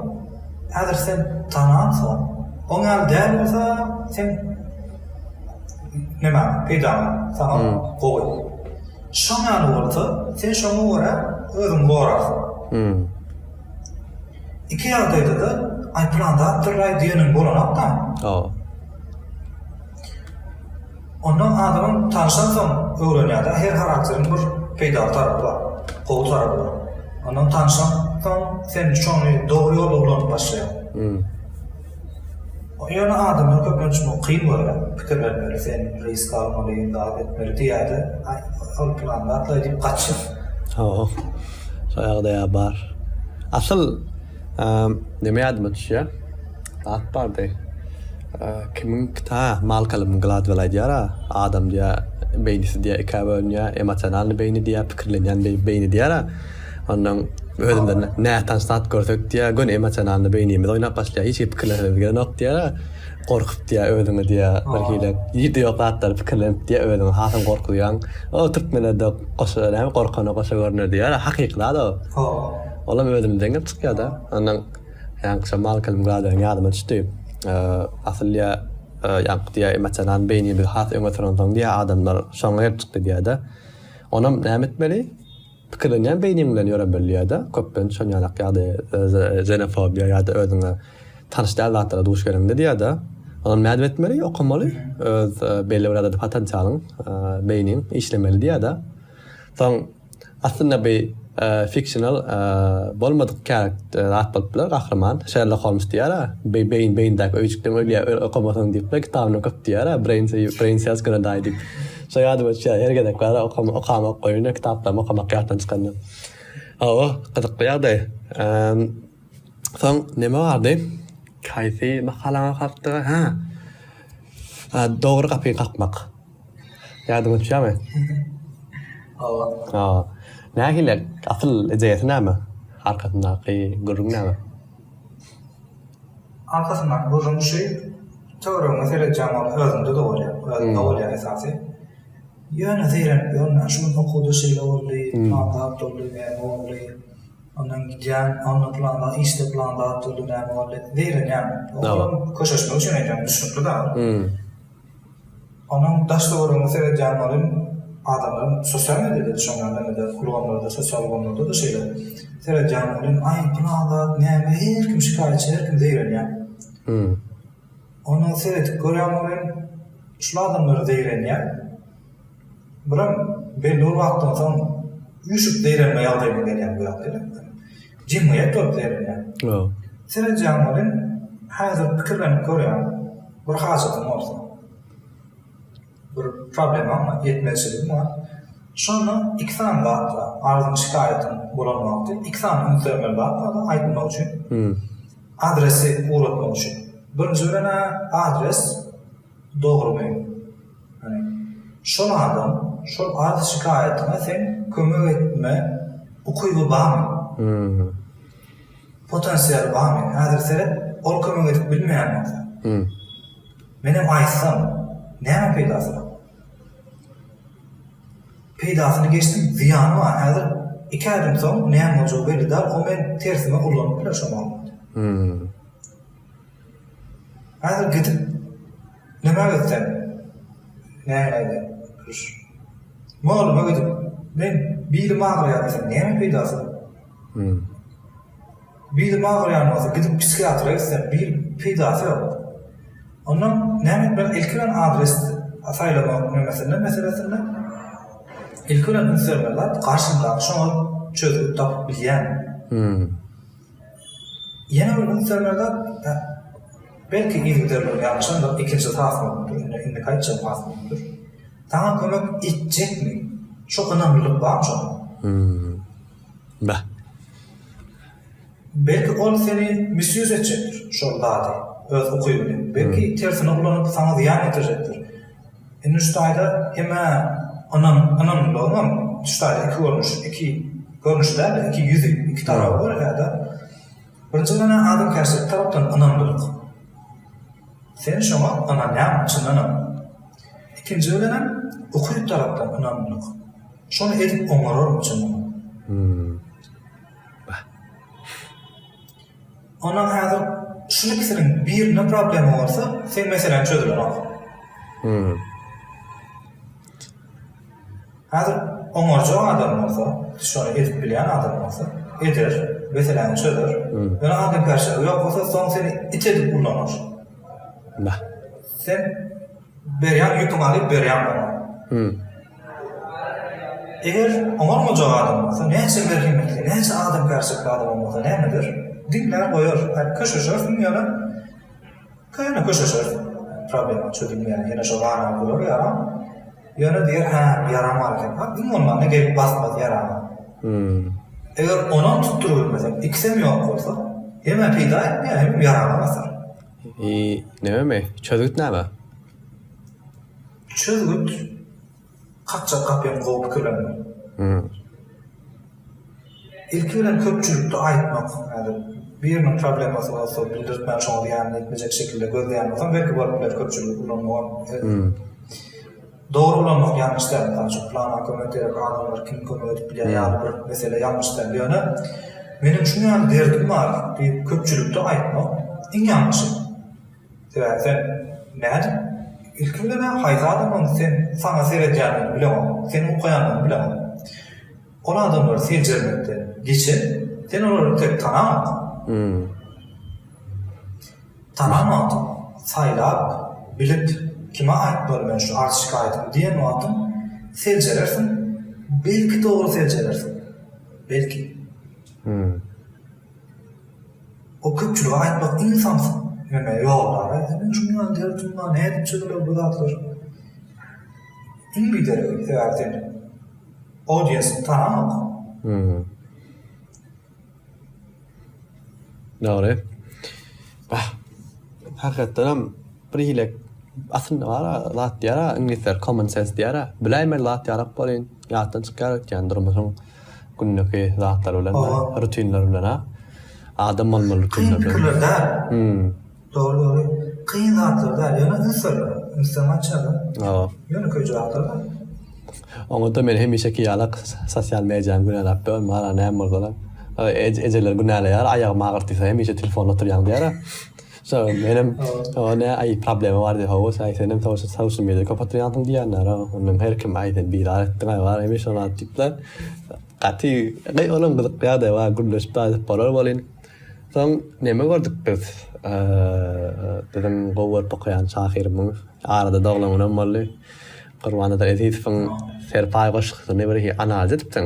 Häzir sen tanansoň, oň ýaly däl bolsa, sen nämäň peýdaňa, saňa gowy. Şoň ýaly bolsa, sen şoňa görä özüňi gorarsyň. Iki ýagdaýda-da aýdylan zat dyrraý diýeniň bolanok-da. Hawa. Onda adamyň tanşansoň öwrenýär-de, her harakteriň bir peýdaly tarapy bar, gowy tarapy bar. Ondan tanşansoň sen şony dogry ýolda ulanyp başlaýaň. Ýöne adamlar köplenç muňa kyn görýär, pikirlenmeli, sen risk almaly, zat etmeli diýýärde, ol plan zatlaý diýip gaçýar. Hawa, şol ýagdaýa bar. Asyl neme ýadyma düşýär, zat bardy, kimiň kita, hä, Malkolmyň Gladwell aýdýar-a, adam diýýär, beýnisi diýýär ikä bölünýär, emosionalnyý beýni diýýär, pikirlenýän beýni diýýär-ä. Ondan özümde nätanyş zat görsek diýýär, göni emosionalny beýnimiz oýnap başlaýar, hiç zat pikirleseňiz gelenok diýýär. Gorkup diýýär özüňi diýýär, birhili ýeride ýok zatlary pikirlenip diýýär, özüňi hasam gorkuzýaň. O türkmenlerde goşa näme gorkana goşa görner diýýär, hakyky zat o. Olam özümden gelip çykýar-da. Ondan ýaňky şo Malkolm Gladweliň ýadyma düşdi. Asyl diýýär, ýaňky diýýär emosionalny beýnimizi has öňe sürensoň diýýär adamlar şoňa gelip çykdy diýýär-de. Onam näme etmeli? Pikirlenýän beýniň bilen ýöre bilýärde, köplenç şon ýanak ýagdaý zenofobiýa ýada özüňe tanyş däl zatlara duş geleňde diýärde, onam nädip etmeli, okamaly, öz belli bir adada potensialyň, beýniň işlemeli diýärde. Soň aslynda bi fiksional bolmadyk zat bolup biler, gahryman, Şerlok Holmes diýärä, bi beýin beýindäki öýjükden ölýär, okamasaň diýip, kitabyna köp diýärä, brain cells gonna die diýip. Şo ýadyma düşýär, her gezek bara okama, okamok goýunda, kitaplarymy okamak ýatdan çykanda. Hawa, gyzykly ýagdaý. Emm, soň neme bardy? Haýsy makalany okapdyga? Hä. A, dogry gapyny kakmak. Ýadyňa düşýärmi? Hawa. Hawa. Nähili? Asyl ideýasy näme? Arkasyndaky gürrüň näme? Arkasynda gözüň düşi, töweregiňe seredýäň ol özünde-de bolýar, özünde bolýar esasy. Ýöne zeýrenip ýörmän, şu gün okuwda şeýle boldy, plan zat boldy, näme boldy, ondan gidýän, onda plan zat, işde plan zat boldy, näme boldy, zeýrenýän. Köşeşmek üçin aýdýan, düşnükli-dä ol. Onuň daş töweregine seredýän welin, adamlaryň sosial mediada düşenler näme-de, ulgamlarda, sosial ulgamlarda-da şeýle. Seredýän welin, aý, pylan zat näme, her kim şikaýatçy, her kim zeýrenýär. Hum. Onda seredip görýän welin, şul adamlar zeýrenýär. Bular belli bir wagtdan soň üýşüp zeýrenme ýagdaýyna gelýän bu ýagdaýlar. Jemgyýet bolup zeýrenýär. Sen edýän welin, häzir pikirlenip görýän bir hajatyň bolsa, bir problemaň bar, ýetmezçiligiň bar. Şonda iki sany zat bar, arzyň, şikaýatyň bolan wagty iki sany üns bermeli zat bar, aýtmak üçin, adresi ugratmak üçin. Birinji bilen-ä adres dogrumy? Şol adam şol arz şikaýatyňa seň kömek etme ukyby barmy? Potensialy barmy? Häzir seret ol kömek edip bilmeýän bolsa. Menem aýtsam näme peýdasy bar? Peýdasyny geçdim zyýany bar häzir iki aýdan soň näme boljagy belli däl o meni tersime ullanyp biler şo mahalyň. Häzir gidip nime gitseň nämäge duş. Molluma gidip men bilim agyrýar diýseň näme peýdasy. Bilim agyrýan bolsa gidip psihiatra gitseň bir peýdasy ýok. Ondan näme etmeli ilki bilen adres saýlamak nemesinde meselesinde ilki bilen üns bermeli zat garşyňdaky şoňa çözgüt tapyp bilýärmi. Ýene bir gün sönede belki yzgiderligi ýalňyşandyr, ikinji has bolupdyr, indi indiki aýtjagym has möhümdir. Saňa kömek etjekmi? Şo ynamlylyk barmy şonda? Hum. Bah. Belki ol seni misýuz etjekdir, şol zady, öz ukybyny, belki tersine ulanyp saňa zyýan ýetirjekdir. Indi Nüştaýda hem-ä ynam, ynamlylygyňam Nüştaýda iki görnüş, iki görnüş däl-de, iki ýüzi, iki taraby bar ýa-da birinji bilen-ä adamkärçilik tarapdan ynamlylyk. Sen şoňa ynanýaňmy çyndanam? Ikinji bilenem ukyp tarapdan ynamlylyk. Şony edip oňararmy çyndanam? Hum. Bah. Ondan häzir şul ikisiniň birinde problema bolsa seň meseläň çözülenok. Hmm. Häzir oňarjak adam bolsa, şony edip bilýän adam bolsa, eder, meseläni çözer. Hmm. Ýöne adam perşaby ýok bolsa, soň seni it edip ullanar. Nah. Sen berýän ýüpüňi alyp berýän oňa. Hmm. Eger oňarmajak adam bolsa, näçe merhemetli, näçe adamkärçilikli adamam bolsa näme eder? Diňlär goýar, häk köşeşersiň ýöne köne köşeşer, problema çözülmeýär, ýene şo garaga durar ýaram, ýöne diýer hä bu ýaram bar ekenka, iň bolmanda gelip basmaz ýarama. Eger onam tutdurybilmesek, ikisem ýok bolsa, hemem peýda etmeýär, hemem ýarama basar. Ýi, nebemi? Çözgüt näme? Çözgüt, kakjak gapyň gowy pikirlenme. Ilki bilen köpçülikde aýtmak, häzir biriniň problemasy bolsa bildirtmän şoňa zyýanyny ýetmejek şekilde gözleýän bolsaň belki bolup biler köpçüligi ulanmagam dogry ulanmak ýalňyş däl mysal üçin plana kömek gerek adamlar kim kömek edip bilýär ýaly bir mesele ýalňyş däl ýöne meniň şuňňaly derdim bar diýip köpçülikde aýtmak iň ýalňyşy. Sebäbi sen, nädip? Ilki bilen-ä haýsy adamyň sen, saňa seredýändigini bileňok, seni okaýandygyny bileňok. Ol adamlary seljermekden geçen, sen olary tek tanamok. Tanamok, saýlap, bilip, kime aýtmaly men şu arz-şikaýatymy diýen wagtyň, seljerersiň, belki dogry seljerersiň. Belki. O köpçülige aýtmak iň samsyk neme ýol bar a indi men şundan der şundan nädip çyzylýar bu zatlar iň bideregi sebäbi sen audiensiňi tanamok. Dogry. Bah. Hakykatdanam bir hile aslynda bar a zat diýer a iňlisler common sense diýer a biläýmeli zat ýarak bolýan ýatdan çykýar ötýän durmuşyň. Gündeki zatlar bilen Owaa. rutinler bilen-a. Adam bolmaly rutinler bilen. Kyn pikirler däl. Hümm. Dogry dogry. Kyn zatlar däl. Ýöne ünsler. Ünsden gaçýarlar. Hawa. Ýönekeý jogaplar bar. Oňa-da men hemişeki ýaly sosial mediany günälap bilemok. Maňa näme bolsa-da. Ejeler günäleýär, aýagym agyrtdysa hemişe telefonda otyrýaň diýär-ä. Sag bol menem saňa nä aý problema bar diýip hawa aý senem social social media köp oturýansyň diýýänara ondan her kim aý sen bizar etdiň aý bar hemişe bar diýipler gaty gaý olam gyzyk ýagdaý bar gürleşip daýyp bolar welin soň neme gördük biz biziň gowy görüp okaýan şahyrymyň arada doglanynam boldy Gurbannazar Ezizowyň Serpaý goşgusyny bir analiz edipsiň.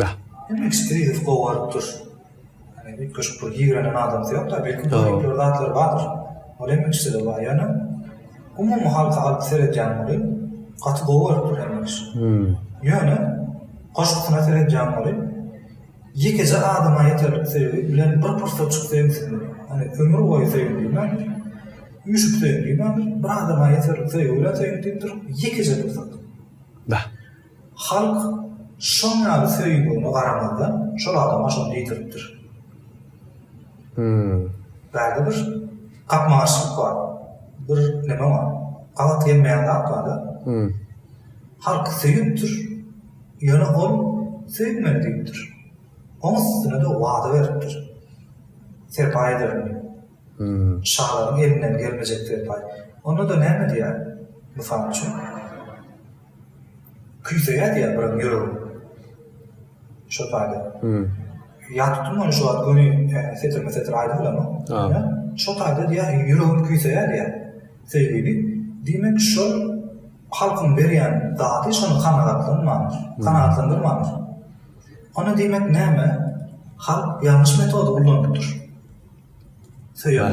Bäh. Demek Skridow gowy baryp dur. Ýagny üýtgeşik bir ýigrennen adamsy ýok-da, belki göripli bir zatlary bardyr. Ol hem ikiside bar. Ýöne umumy halka alyp seredýän welin, gaty gowy baryp dur hemme iş. Ýöne goşgusyna seredýän welin, ýekeje adama ýeterlik söýgi bilen bir pursatjyk söýmseň, ony ömür boýy söýgin diýmändir, üýşüp söýgin diýmändir, bir adama ýeterlik söýgi bilen söýgin diýipdir, ýekeje pursat. Bäh. Halk şoň ýaly söýgüne garamazdan şol adama şony diýdiripdir. Bärde bir gapma-garşylyk bar. Bir neme bar. Gabat gelmeýän zat bar-da. Halk söýüpdir. Ýöne ol söýülmeli diýipdir. Oň üstüne-de wada beripdir. Serpaý ederin diýip. Şalaryň elinden gelmejek serpaý. Onda-da näme diýer? Mysal üçin. Küýseýär diýýär birem ýüregim. Şol taýda. Ýatyp durman şu wagt göni setirme setir aýdym bilemok. Ýa şol taýda diýýär ýüregim küýseýär diýýär. Söýgüli diýmek şol halkyň berýän zady şony kanagatlanmandyr. Kanagatlandyrmandyr. Onda diýmek näme? Halk ýalňyş metody ullanypdyr. Söýer.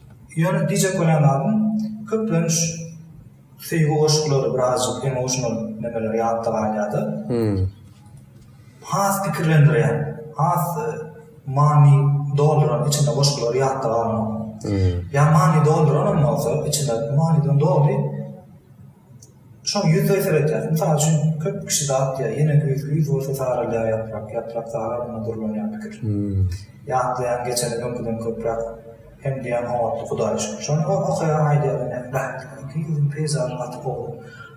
Ýöne diýjek bolýan zadym, köplenç söýgi goşgulary birazjyk emotional nemeler ýatda galýar-da. Has pikirlendirýän, has many dolduran içinde goşgulary ýatda galmagam. Ýa many dolduranam bolsa, içinde manydan doly Şony ýüz we seredýäs. Mysal üçin, köp kişi zat diýýär, ýene güýz, güýz bolsa saralýar ýaprak, ýaprak sarar, ýene durlanýar pikir. Ýatlaýan geçeni öňküden köpräk hem diýýän oňatly Hudaýa şükür. Şony okaýan aýdýar ine, Bähbitli iki ýüzüň peýzažy gaty gowy.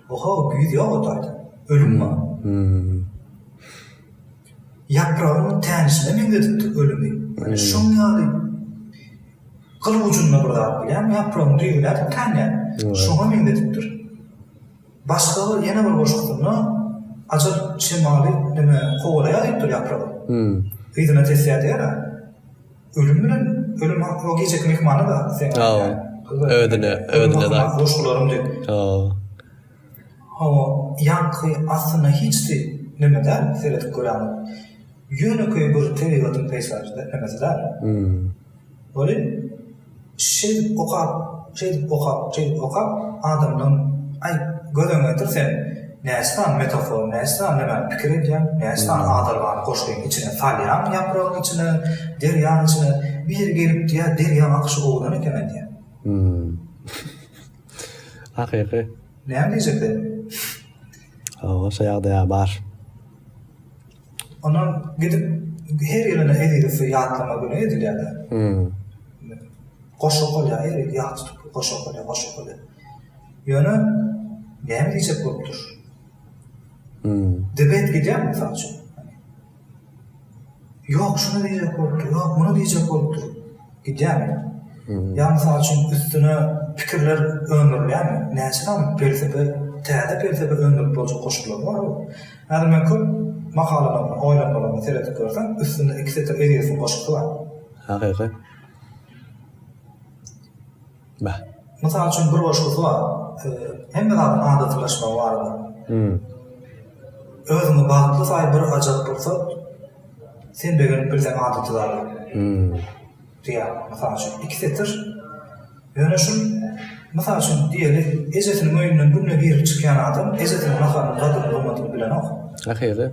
Oho, güýz ýok o taýda. Ölüm bar. Ýapragyň tänişine meňzedipdir ölümi. Şoň ýaly. Gyl ujunda bir zat bilýän, ýapragyny düýeläp tanýan. Şoňa meňzedipdir. Başga bir, ýene bir goşgusynda Ajal şemaly näme, kowalaýar diýipdir ýapragy. Yzyna tesýär diýer-ä. Ölüm bilen, ölüm hakda o gijeki myhmana-da seň aýdýaň. Özüne, özüne-de aýt. Goşgularym diýip. Hawa, ýaňky aslynda hiç de neme däl, seredip göräýmäň. Ýönekeý bir tebigatyň peýzajy-da, nemesi däl. Weli, şeý okap, şeýdip okap, şeýdip okap, adamdan, aý, gözüňi getir sen, näçe sany metafora, näçe sany nämäni pikir edýäň, näçe sany adalgany goşgyň içine salýaň, ýapragyň içine, derýaň içine. Biri gelip diýýär, Derýa akyşy owlan eken-aý diýýär. Hakyky. Näme diýjekdi? Hawa, şo ýagdaýa bar. Onam gidip her ýylyna Ezizowy ýatlama güni edilýär-de. Hum. Goşa okalýar, her ýyl ýat tutup goşa okalýar, goşa okalýar. Ýöne näme diýjek bolup dur. Hum. Debet gidýär mysal üçin. Ýok, şuny diýjek bolupdyr, ýok, muny diýjek bolupdyr gidýärmi? Ýa, mysal üçin, üstüne pikirler öndürilýärmi? Näçe sany pelsepe, täze pelsepe öndürip boljak goşgular bar bu. Häzir men köp makalalaryma, oýlanmalaryma seredip görsem, üstünde iki setir Ezizowyň goşgusy bar. Hakykat. Beh. Mysal üçin bir goşgusy bar. Hemme zadyň adatylaşmagy barada. Hum. Özüňi bagtly saý bir ajap pursat sen begenip bilseň adaty zada. Hum. Diýýär. Mysal üçin iki setir. Ýöne şul mysal üçin diýeli ejesiniň öýünden günde girip çykýan adam ejesiniň naharynyň gadyryny gymmatyny bilenok. Ahyry.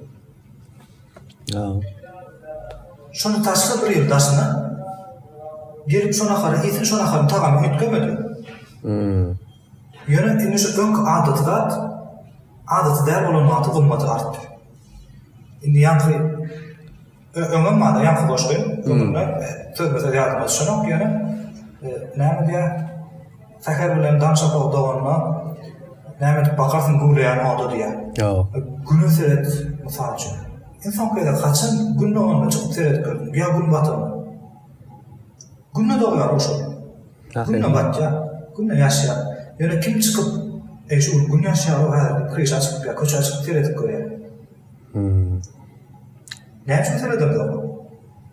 Şuny taşla bir ýyl daşyna gelip şo nahary iýsin şo naharyň tagamy üýtgemedi. Ýöne indi şu öňki adaty zat adaty däl bolan wagty gymmaty artdy. Indi ýaňky öňem bardy ýaňky goşgy öňünde sözbe söz ýadyma düşenok ýöne näme diýýär Säher bilen daň şapagy doganda näme edip bakarsyň güwleýän oda diýýär. Ýok. Güne seret mysal üçin. Iň soňky gezek haçan gün doganda çykyp seredip gördüň ýa gün batandan? Günde dogýar o şol. Günde batýar. Günde ýaşýar. Ýöne kim çykyp eý şu gün gün ýaşýar-ow häzir diýip kryşa çykyp ýa köçä çykyp seredip görýär. Näme üçin seredildi oňa?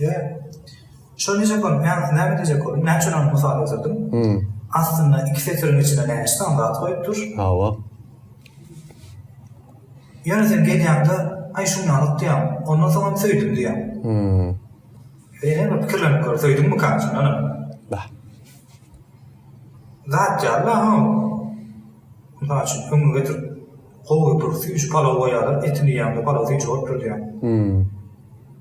Ýa. Şony nädip boldy? Näme boldy? Näme diýjek boldum? Näme üçin ony mysal getirdin? Hum. Astynda iki setiriň içinde näçe sany zat goýup dur? Hawa. Ýöne sen gelýäňde, Aý, şuny alyk diýýäň. Ondan soň hem söýdüm diýýäň. Hum. Ýöne bir pikirlenip gör, söýdüňmikam sen ony? Bah. Zat ýaly-la hä ol. Mysal üçin, öňüňe getirip, gowy bir süýji palaw goýýarlar, etini iýýäňde palaw süýji bolup dur diýýäň. Hum.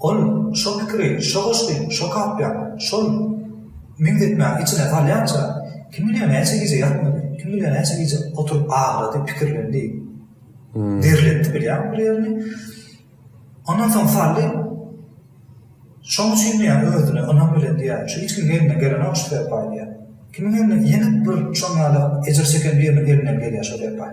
Ol şo pikiri, şo goşgy, şo kapýa, şol meňzetmäni içine salýança, kim bilýär näçe gije ýatmady, kim bilýär näçe gije oturyp agrady, pikirlendi. Derletdi bilýäňmi bir ýerini. Ondan soň saldy. Şoň üçin diýýär, özüne ynam bilen diýýär, şu hiç kimiň elinden gelenok şu serpaý diýýär. Kimiň elinden, ýene bir şoň ýaly ejir çeken biriniň elinden gelýär şo serpaý.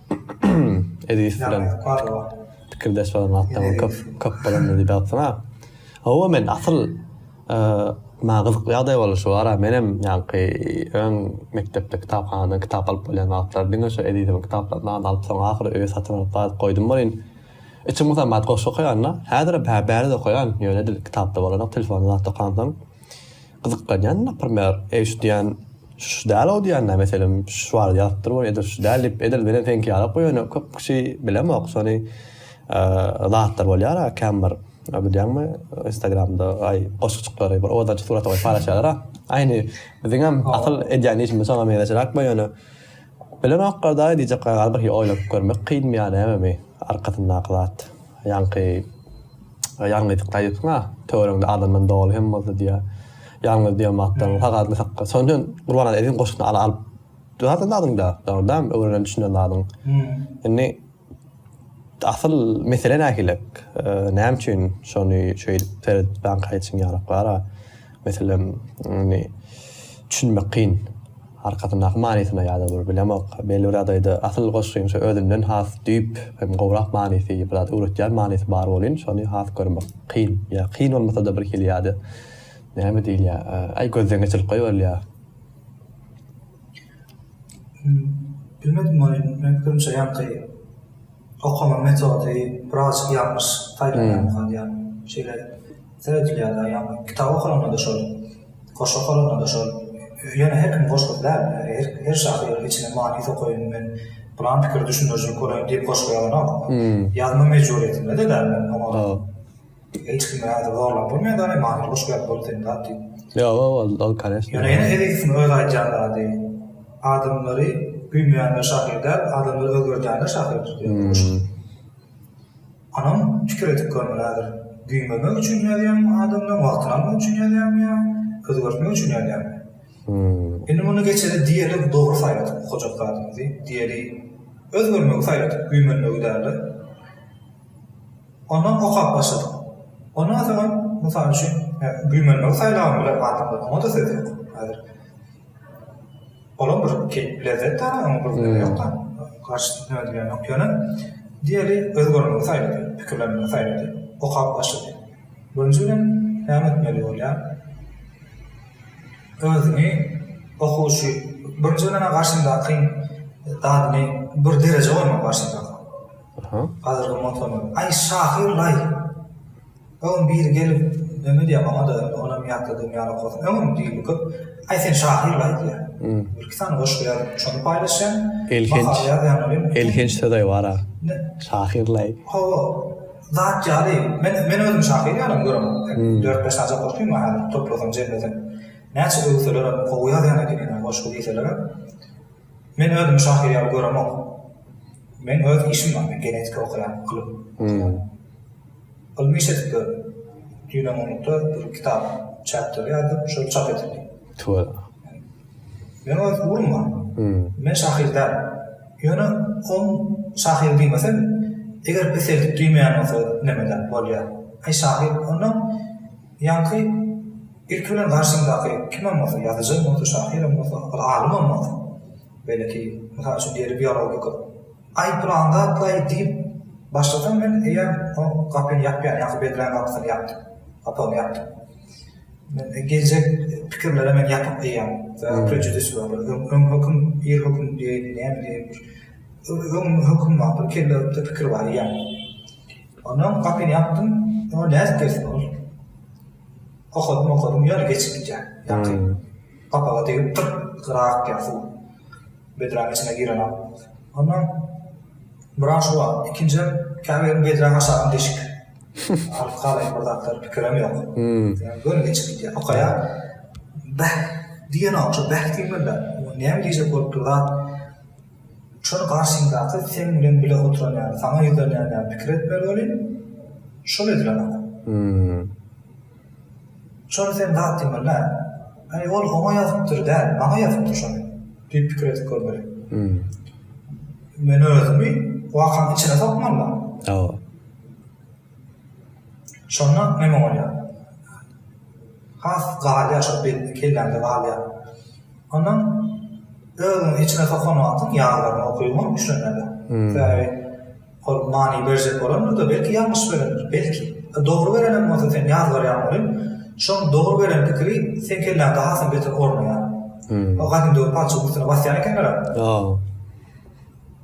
Edis bilen pikirdeş bolan wagtlaryň köp köp bolandyr diýip ýazsaňa. Hawa men asyl maňa gyzykly ýagdaý boldy şu ara menem ýaňky öň mekdepde kitaphanadan kitap alyp bolýan wagtlary diňe şu Edisiň kitaplaryndan alyp soň ahyry öýe satyn alyp gaýdyp goýdum welin içim gysam bady goşgy okaýan-da häzirem hä bärde okaýan ýöne edil kitapda bolanok telefonda zatda okansoň Gyzyklanýan naprmer, eý şu diýen şu däl-ow diýenler meselem şu barada ýazypdyr we edil şu däl diýip edil menen seňki ýaly okuýar ýöne köp kişi bilemok şony zatlar bolýara känbir bilýäňmi instagramda aý goşguçyklary bir owadançy surata goýup paýlaşýarlara aýny biziňem asyl edýän işimiz şoňa meňzeşiräkmi ýöne Bilemok gardaý diýjek gaýgy oýlap görmek kyn ýa nämemi arkasyndaky zat ýaňky ýalňyzlyk daýypsyň a töweregiňde adamdan doly hem bolsa diýýär ýalňyz diýen matdan sagadyny sakla şonuň üçin Gurbannazaryň goşgysyny alyp dur adyňda dogry däl öwrenen düşünen zadyň indi Asyl mesele nähilek? Näme üçin şony şeýdip seredip baňkaýa çymýarok bara? Meselem, indi düşünmek kyn. Arkasyndaky manysyna ýa-da bir bilemok. Belli bir ýagdaýda asyl goşgyň şu özünden has düýp hem gowrak manysy, bir zat öwretýän manysy bar welin, şony has görmek kyn. Ýa kyn bolmasa-da bir hili ýa-da näme diýilýär, aý gözden geçirilip goýberilýär. Bilmedim ony men pikirimçe ýaňky okama metody biraz ýalňyş taýdan galýar şeýle seredilýär dagy ýaňky kitap okalanda da şol goşgy okalanda da şol ýöne her kim goşgy däl her şahyr içine many sokaýyn men pylan pikiri düşündirijilik bolaýyn diýip goşgy ýazanok ýazma mejburyýetinde-de däl men oňa. Hiç kim özi zorlap bolmaýar dany manyly goşgy ýaly bol sen zat diýip. Ýok ýok ol ol koneşne. Ýöne ýene Ezizowyň öz aýdýan zady adamlary güýmeýänler şahyr däl adamlary özgerdýänler şahyrdyr diýen goşgy. Onam pikir edip görmeli häzir güýmemek üçin ýazýan adamdan wagtyny almak üçin ýazýan ýa özgertmek üçin ýazýan. Indi muny geçeli diýeli dogry saýladyk okajak zadymyzy diýeli özgermegi saýladyk güýmenmegi dälde. Ondan okap başladym. Ondan soň, mysal üçin, güýmenmegi saýlabam bilerin adamlar, oňa-da söz ýok. Häzir olam bir keýp, lezzet däl-ä, oňa bir zerur ýok-da, garşysyna neme diýen ýok. Ýöne, diýeli, özgermegi saýlady, pikirlenmegi saýlady, okap başlady. Birinji bilen, näme etmeli bolýar? Özüňi okuwçy, birinji bilen-ä garşyňdakyň zadyny bir derejä goýmaly garşyňdakyň. Hazirgi motorlar. Aý şahyr laý. Öň biri gelip neme diýýär maňada indi onam ýatladym ýaly okaryn. Öňem diýildi köp. Aý sen şahyr laý diýýär. Bir iki sany goşgy ýazyp şony paýlaşýan. Elhenç. Elhenç sözaý bara. Şahyr laý. Hawa. Zat ýaly. Men men özüm şahyr ýalym göremok. Dört beş sany goşgym bar häzir toplasam jemlesem. Näçe öwselerem gowy ýazýan ekeniňä goşgy diýselerem. Men özümi şahyr ýaly göremok. Meň öz işim bar, men genetika okaýan, ylym okaýan. Ylmy iş edip ýörün. Düýn-öňňinlikde bir kitap çäp törýärdim, şol çap edildi. Tüweleme. Meň öz ugrum bar. Men şahyr däl. Ýöne on şahyr diýmesem, eger peseldip düýmeýän bolsa, neme däl, bolýar. Aý şahyr, onda Ýaňky ilki bilen garşyňdaky kimem bolsa, ýazyjym bolsa, şahyrym bolsa, bir alymam bolsa, beýleki, mysal üçin, diýeli biolog pikir, Aý, pylan zatlaý diýip başlasam, men eýýäm oň gapyny ýapýan ýaňky bedräň gapysyny ýapdym, gapagyny ýapdym. Men geljek pikirlere men ýapyk eýýäm, sebäbi prejudis bar, bir öň höküm, ir höküm diýeýin, näme diýeýin, bir öň höküm bar, bir kelle ökde pikir bar eýýäm. Ondan gapyny ýapdym, ýöne nädip gelsin ol. Okadym-okadym, ýöne geçip gidýär. Ýaňky gapaga degip gyrt gyra akýar suw. Bedräň içine girenok. Ondan buran şu wagt, ikinjiden käbir bedräň aşagynda deşik. Alyp galaýyn bir zatlar, pikirem ýok. Göni geçip gidýär. Okaýar. Bäh! diýenok, şo bäh diýmeli-dä. Näme diýjek bolup dur zat. Şony garşyňdaky seň bilen bile oturan ýaly, saňa ýüzlenýän ýaly pikir etmeli welin, şol edilen adam. Şony sen zat diýmeli däl. Aý, ol oňa ýazypdyr däl, maňa ýazypdyr şony diýip pikir edip görmeli. Men özümi wakaň içine sokmaly. Şonda neme bolýar? Has galýar şol betde kelläňde galýar. Ondan özüňi içine sokan wagtyň ýazgylaryňy okybyň düşünmeli. Sebäbi ol many berjek bolandyr-da belki ýalňyş berendir. Belki dogry berenem bolsa sen ýazgar ýaly şol dogry beren pikiri seň kelläňde hasam beter ornaýar. O gadymda palçygyň üstüne basýan ekenler-ä.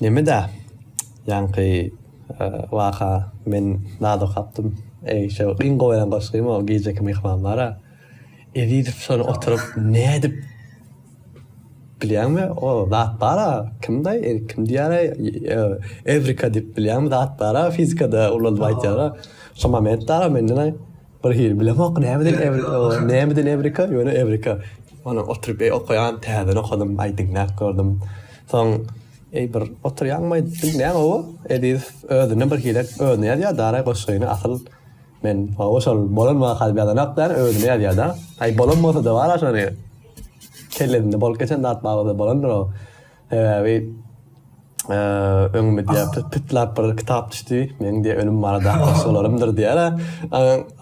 Nemeda ýaňky waka men naz okapdym eý şo iň gowy eden goşgym o gijeki myhmanlara Ezizow şony oturyp nädip bilýäňmi o zat bara kimdaý kim diýäraý ewrika diýip bilýäňmi zat bara fizikada ulaldyp aýtýara şo momentdara mendenaý. Bir hili bilemok nämeden Ew- nämeden Evrika, ýöne Evrika. Ony oturyp eý, okaýan, täzeden okadym, aý diňläp gördüm. Soň eý bir oturýaňmy aýtdym, näme bu? Eziz özüne bir hili özüne ýazýar da araý goşgyny asyl men hawa şol bolan waka diýip ýazanok da özüne ýazýar da. Aý bolan bolsa da bar şony. Kellesinde bolup geçen zat barada bolandyr o. Sebäbi öňüme diýýärdi, pytlap bir kitap düşdi, meniň diýýär ölüm barada solarymdyr diýýär.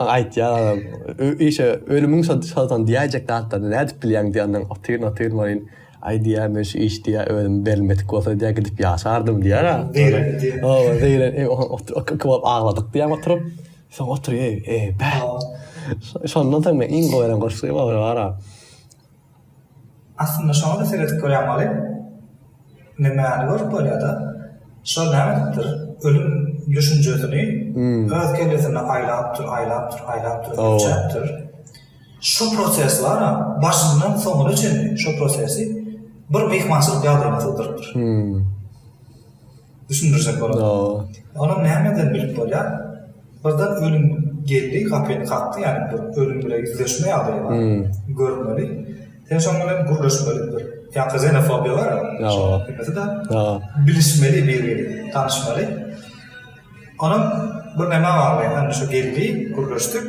Aýtýar, işe ölümiň şoldan diýäýjek zatlaryny nädip bilýäň diýenden otyryn, otyryn welin, aý diýýär, men şu iş diýýär ölüm berilmedik bolsa diýýär gidip ýaşardym diýýär. Hawa, zeýren, iki bolup agladyk diýýär oturyp. Soň oturyp, eý, bä. Şondan soň men iň gowy gören goşgy, olar bara. Aslynda şoňa-da seredip görýän wagym, nämäni görüp bolýar-da, şol nämelikdir, ölüm düşünjesini öz kellesinde aýlapdyr, aýlapdyr, aýlapdyr, ölçäpdir. Şu proses bar-a, başyndan soňuna çenli şu prosesi bir myhmançylyk ýagdaýyna sygdyrypdyr. Düşündirjek bolan. Olam nämeden bilip bolýar? Birden ölüm geldi gapyny kakdy ýaly bir ölüm bile ýüzleşme ýagdaýy bar. Görmeli. Sen şoň bilen gürleşmeli bir. Ýa-da zenofobiýa bar. Ýa-da bilişmeli biri bilen tanyşmaly. Olam bir näme bar indi şu geldi gürleşdik.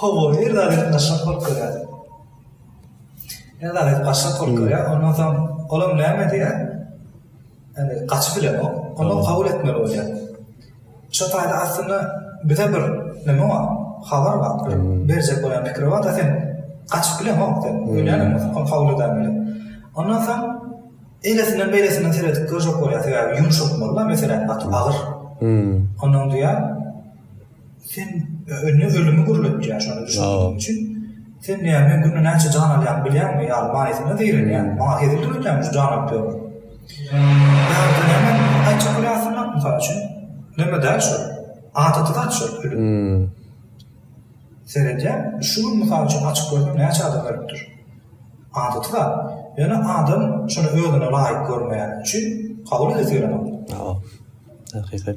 Hawa, her zat ýatnaşyk bolup durýar. Her zat ýatnaşyk bolup durýar. Ondan soň olam näme diýýär? Ýani gaçyp bilenok. Olam kabul etmeli bolýar. Şo taýda aslynda bize bir neme bar, habar bar. Bir berjek bolan pikiri bar, da sen gaçyp bilenok sen. Öýlänok bolsa, ol kabul eder bilen. Ondan soň eýlesinden beýlesinden seredip görjek bolýar. Sebäbi ýumşak bolma meselem gaty agyr. Ondan diýýär. Sen öne ölümi gürletýä şony düşündüriň üçin. Sen näme men günde näçe jan alýan bilýäňmi ýaly manysyna zeýrenýän. Maňa hezil döredýäňmi şu jan alyp ýörüň. Ýa-da näme aýtjak bolýarsyň ha mysal üçin. Näme däl şu. Adaty zat şu ölüm. Seredýän şu gün mysal üçin açyk gördüm näçe adam ölüpdir. Adaty zat. Ýöne adam şony özüne laýyk görmeýäni üçin kabul edesi gelenok. Hakykat.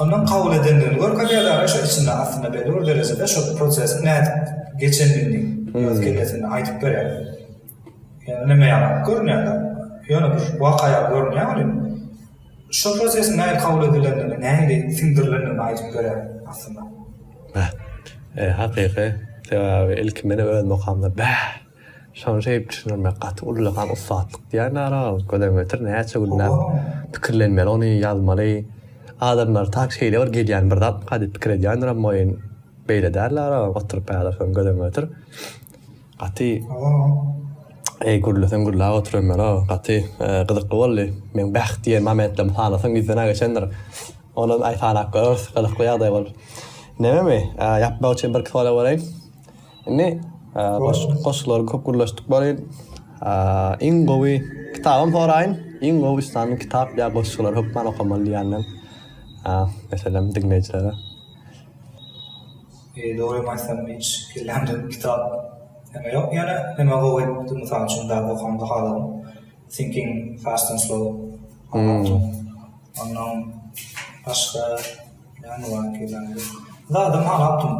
Ondan kabul edendigini görkezýär dagy şo içinde aslynda belli bir derejede şo prosesiň nädip geçendigini öz kellesinde aýdyp berýär. Ýöne neme ýaly görünýär dagy. Ýöne bir waka ýaly görünýär welin şo prosesiň nähili kabul edilendigini nähili siňdirilendigini aýdyp berýär aslynda. Bäh. Hakyky. Sebäbi ilki meni öz makamda bäh. Şony şeýdip düşündirmek gaty ullakan ussatlyk diýýän aragalyk gözden getir näçe günläp pikirlenmeli ony ýazmaly adamlar tak şeýle bir gelýän bir zatmyka diýip pikir edýändiram moýyn beýle däldi aragalyk oturyp ýazarsyn gözden getir gaty eý gürleseň gürläp oturyn mena gaty gyzykly boldy meň bäh diýen momentlerimi sanasaň ýüzden-ä geçendir onam aý sanap göreriz gyzykly ýagdaý bolup nememi ýapmak üçin birki sorabereýin. Indi goşgulary köp gürleşdik bari. Iň gowy kitabym soraýyn. Iň gowy üstanyň kitap ýa goşgulary hökman okamaly diýenden. Meselem diňleýjilere. E, dogrymy aýtsam hiç kellämde kitap näme ýok ýöne näme gowy mysal üçin däp okamda haladym. Thinking Fast and Slow. Ondan başga Näme bar ki näme. Zadam aňatdym.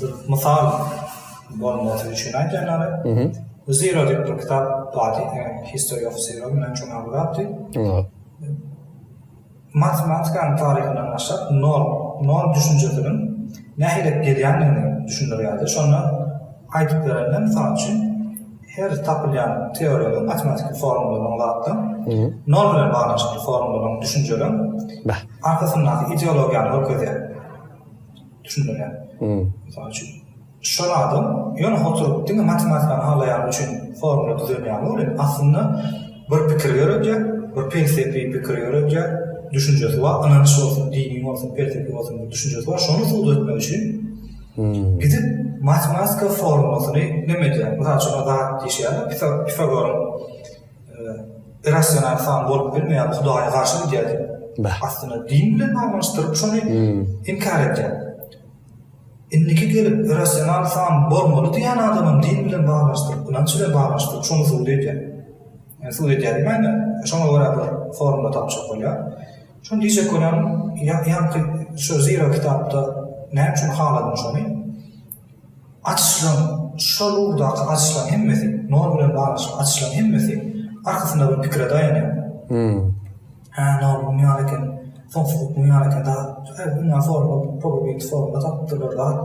Bir mysal bolmasy üçin aýdýanlary. Zero diýip bir kitap bar. History of Zero men üçin aglatdy. Matematikanyň taryhyndan başlap nol, nol düşünjesiniň nähili gelýändigini düşündirýärdi. Şonda aýdyp berende, mysal üçin, Her tapylýan teoriýada matematiki formuladan zatdan, nol bilen baglanyşykly formuladan düşünjeden arkasyndaky ideologiýany görkezýär. Düşündirýär. Mysal üçin, düşen adam ýöne oturyp diňe matematikany halaýany üçin formula düzenýärmi ol indi? Aslynda bir pikir ýöredýär, bir pelsepi pikir ýöredýär, düşünjesi bar, ynanç bolsun, dini bolsun, pelsepi bolsun bir düşünjesi bar, şony subut etmek üçin, Gidip matematika formulasyny nem edýär. Mysal üçin, zat diýişýärler Pifagoryň irrasional san bolup bilmeýär, Hudaýa garşy gidýär diýip. Beh. Aslynda din bilen baglanyşdyryp şony inkär edýär. Indiki gelip irrasional san bolmaly diýýän adamam din bilen baglanyşdyryp, ynanç bilen baglanyşdyryp şony subut edýär. Subut edýär diýmäýin-de, şoňa görä bir formula tapjak bolýar. Şuny diýjek bolýaryn, ýaňky şu Zira kitapda näme üçin haladym şuny, açyşlaryň, şol ugurdaky açyşlaryň hemmesi, nol bilen baglanyşykly açyşlaryň hemmesi arkasynda bir pikire daýanýar. Hum. Hä, nol muň ýaly eken, soňsuzlyk muň ýaly eken, dünýä foruma, pogubit forumda tapyp durlar zat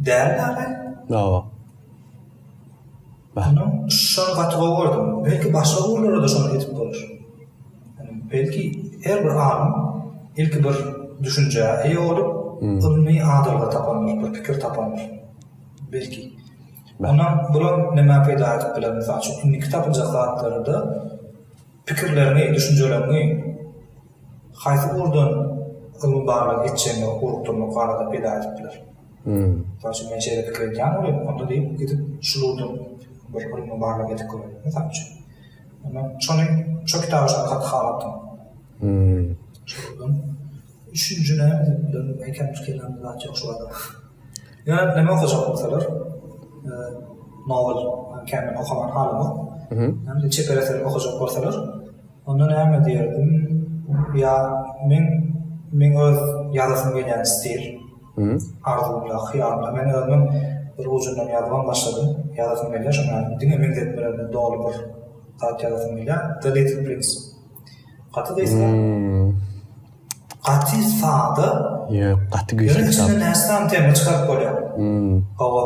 däl-de, agam. Hawa. Hany şony gaty gowy gördüm. Belki başga ugurlarada şony edip bolar. Belki her bir alym ilki bir düşünjä eýe bolup, ylmy adalga tapandyr, bir pikir tapandyr. Belki. Onda bular nämä peýda edip biler? Mysal üçin, indiki tapyljak zatlarda pikirleriňi, düşünjeleriňi Haýsy ugurdan ylmy barlag etjegine urugdyryma garada peda edip biler. Mysal üçin men şeýle pikir edýän bolýan, onda diýip gidip şul ugurdan bir ylmy barlag edip göreli, mysal üçin. Onda şony şo kitaby şony gaty halapdym. Şol ugurdan üçünji näme edip bilerin, ekem pikirlenme zat ýok şu barada. Ýöne näme okajak bolsalar, nowel, kän okaman halamok. Çeper eser okajak bolsalar, Onda näme diýerdim? Ýa, men, meň öz ýazasym gelýän stil, arzuwymda, hyýalymda, men özümiň bir ujundan ýazybam başladym, ýazasym gelýär, şonuň ýaly diňe meňzetmelerden doly bir zat ýazasym gelýär, The Little Prince. Gaty gysga, gaty sada, ýöne içinden näsam tema çykaryp bolýar, gowy.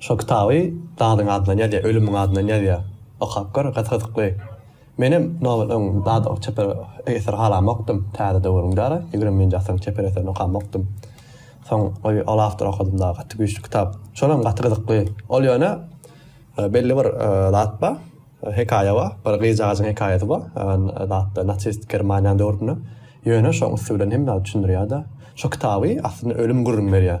Şo kitaby zadyň adyndan ýazýar, ölümiň adyndan ýazýar. Okap gör, gyz-gyzykly. Menem nobat öň zat o çeper eser halamokdym, täze döwrüň dara, ýigrimi birinji asyryň çeper eserini okamokdym. Soň bir ol awtory okadym dagy, gaty güýçli kitap. Şolam gaty gyzykly. Ol ýöne belli bir zat bar, hekaýa bar, bir gyzjagajyň hekaýasy bar, zatda nasist Germaniýanyň döwründe. Ýöne şoň üsti bilen hemme zady düşündirýär-de. Şo kitaby aslynda ölüm gürrüň berýär.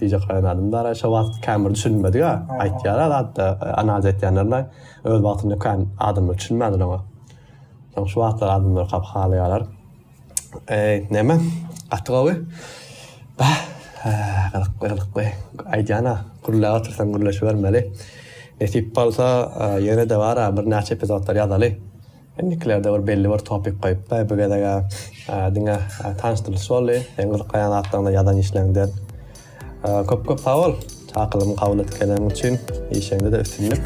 Dije Kaýan adam da araýşa wagt kän bir düşünilmedik-ä. Aýtýar-a zat-da, analiz etýänler-de öz wagtynda kän adamlar düşünmändir oňa. Soň şu wagtlar adamlar hap halaýarlar. Eý, näme? Gaty gowy. Bah, gyzykly, gyzykly. Aýdýan-a, gürläp otyrsaň gürleşibermeli. Nesip bolsa, ýene-de bar-a birnäçe epizodlar ýazaly. Indikilerde bir belli bir topik goýup. Baý bu gezeg diňe tanyşdyrylyş boldy. Seň gyzyklanýan zatlaryňda ýazan işleriňde köp köp sag bol. Çakylygymy kabul edip gelenligiň üçin işiňde-de üstünlik.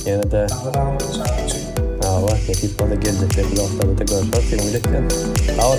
Ýene-de Sag bol. Nesip bolsa geljekde bloglarda görüşeris. Diňe umyt etýän. Sag bol.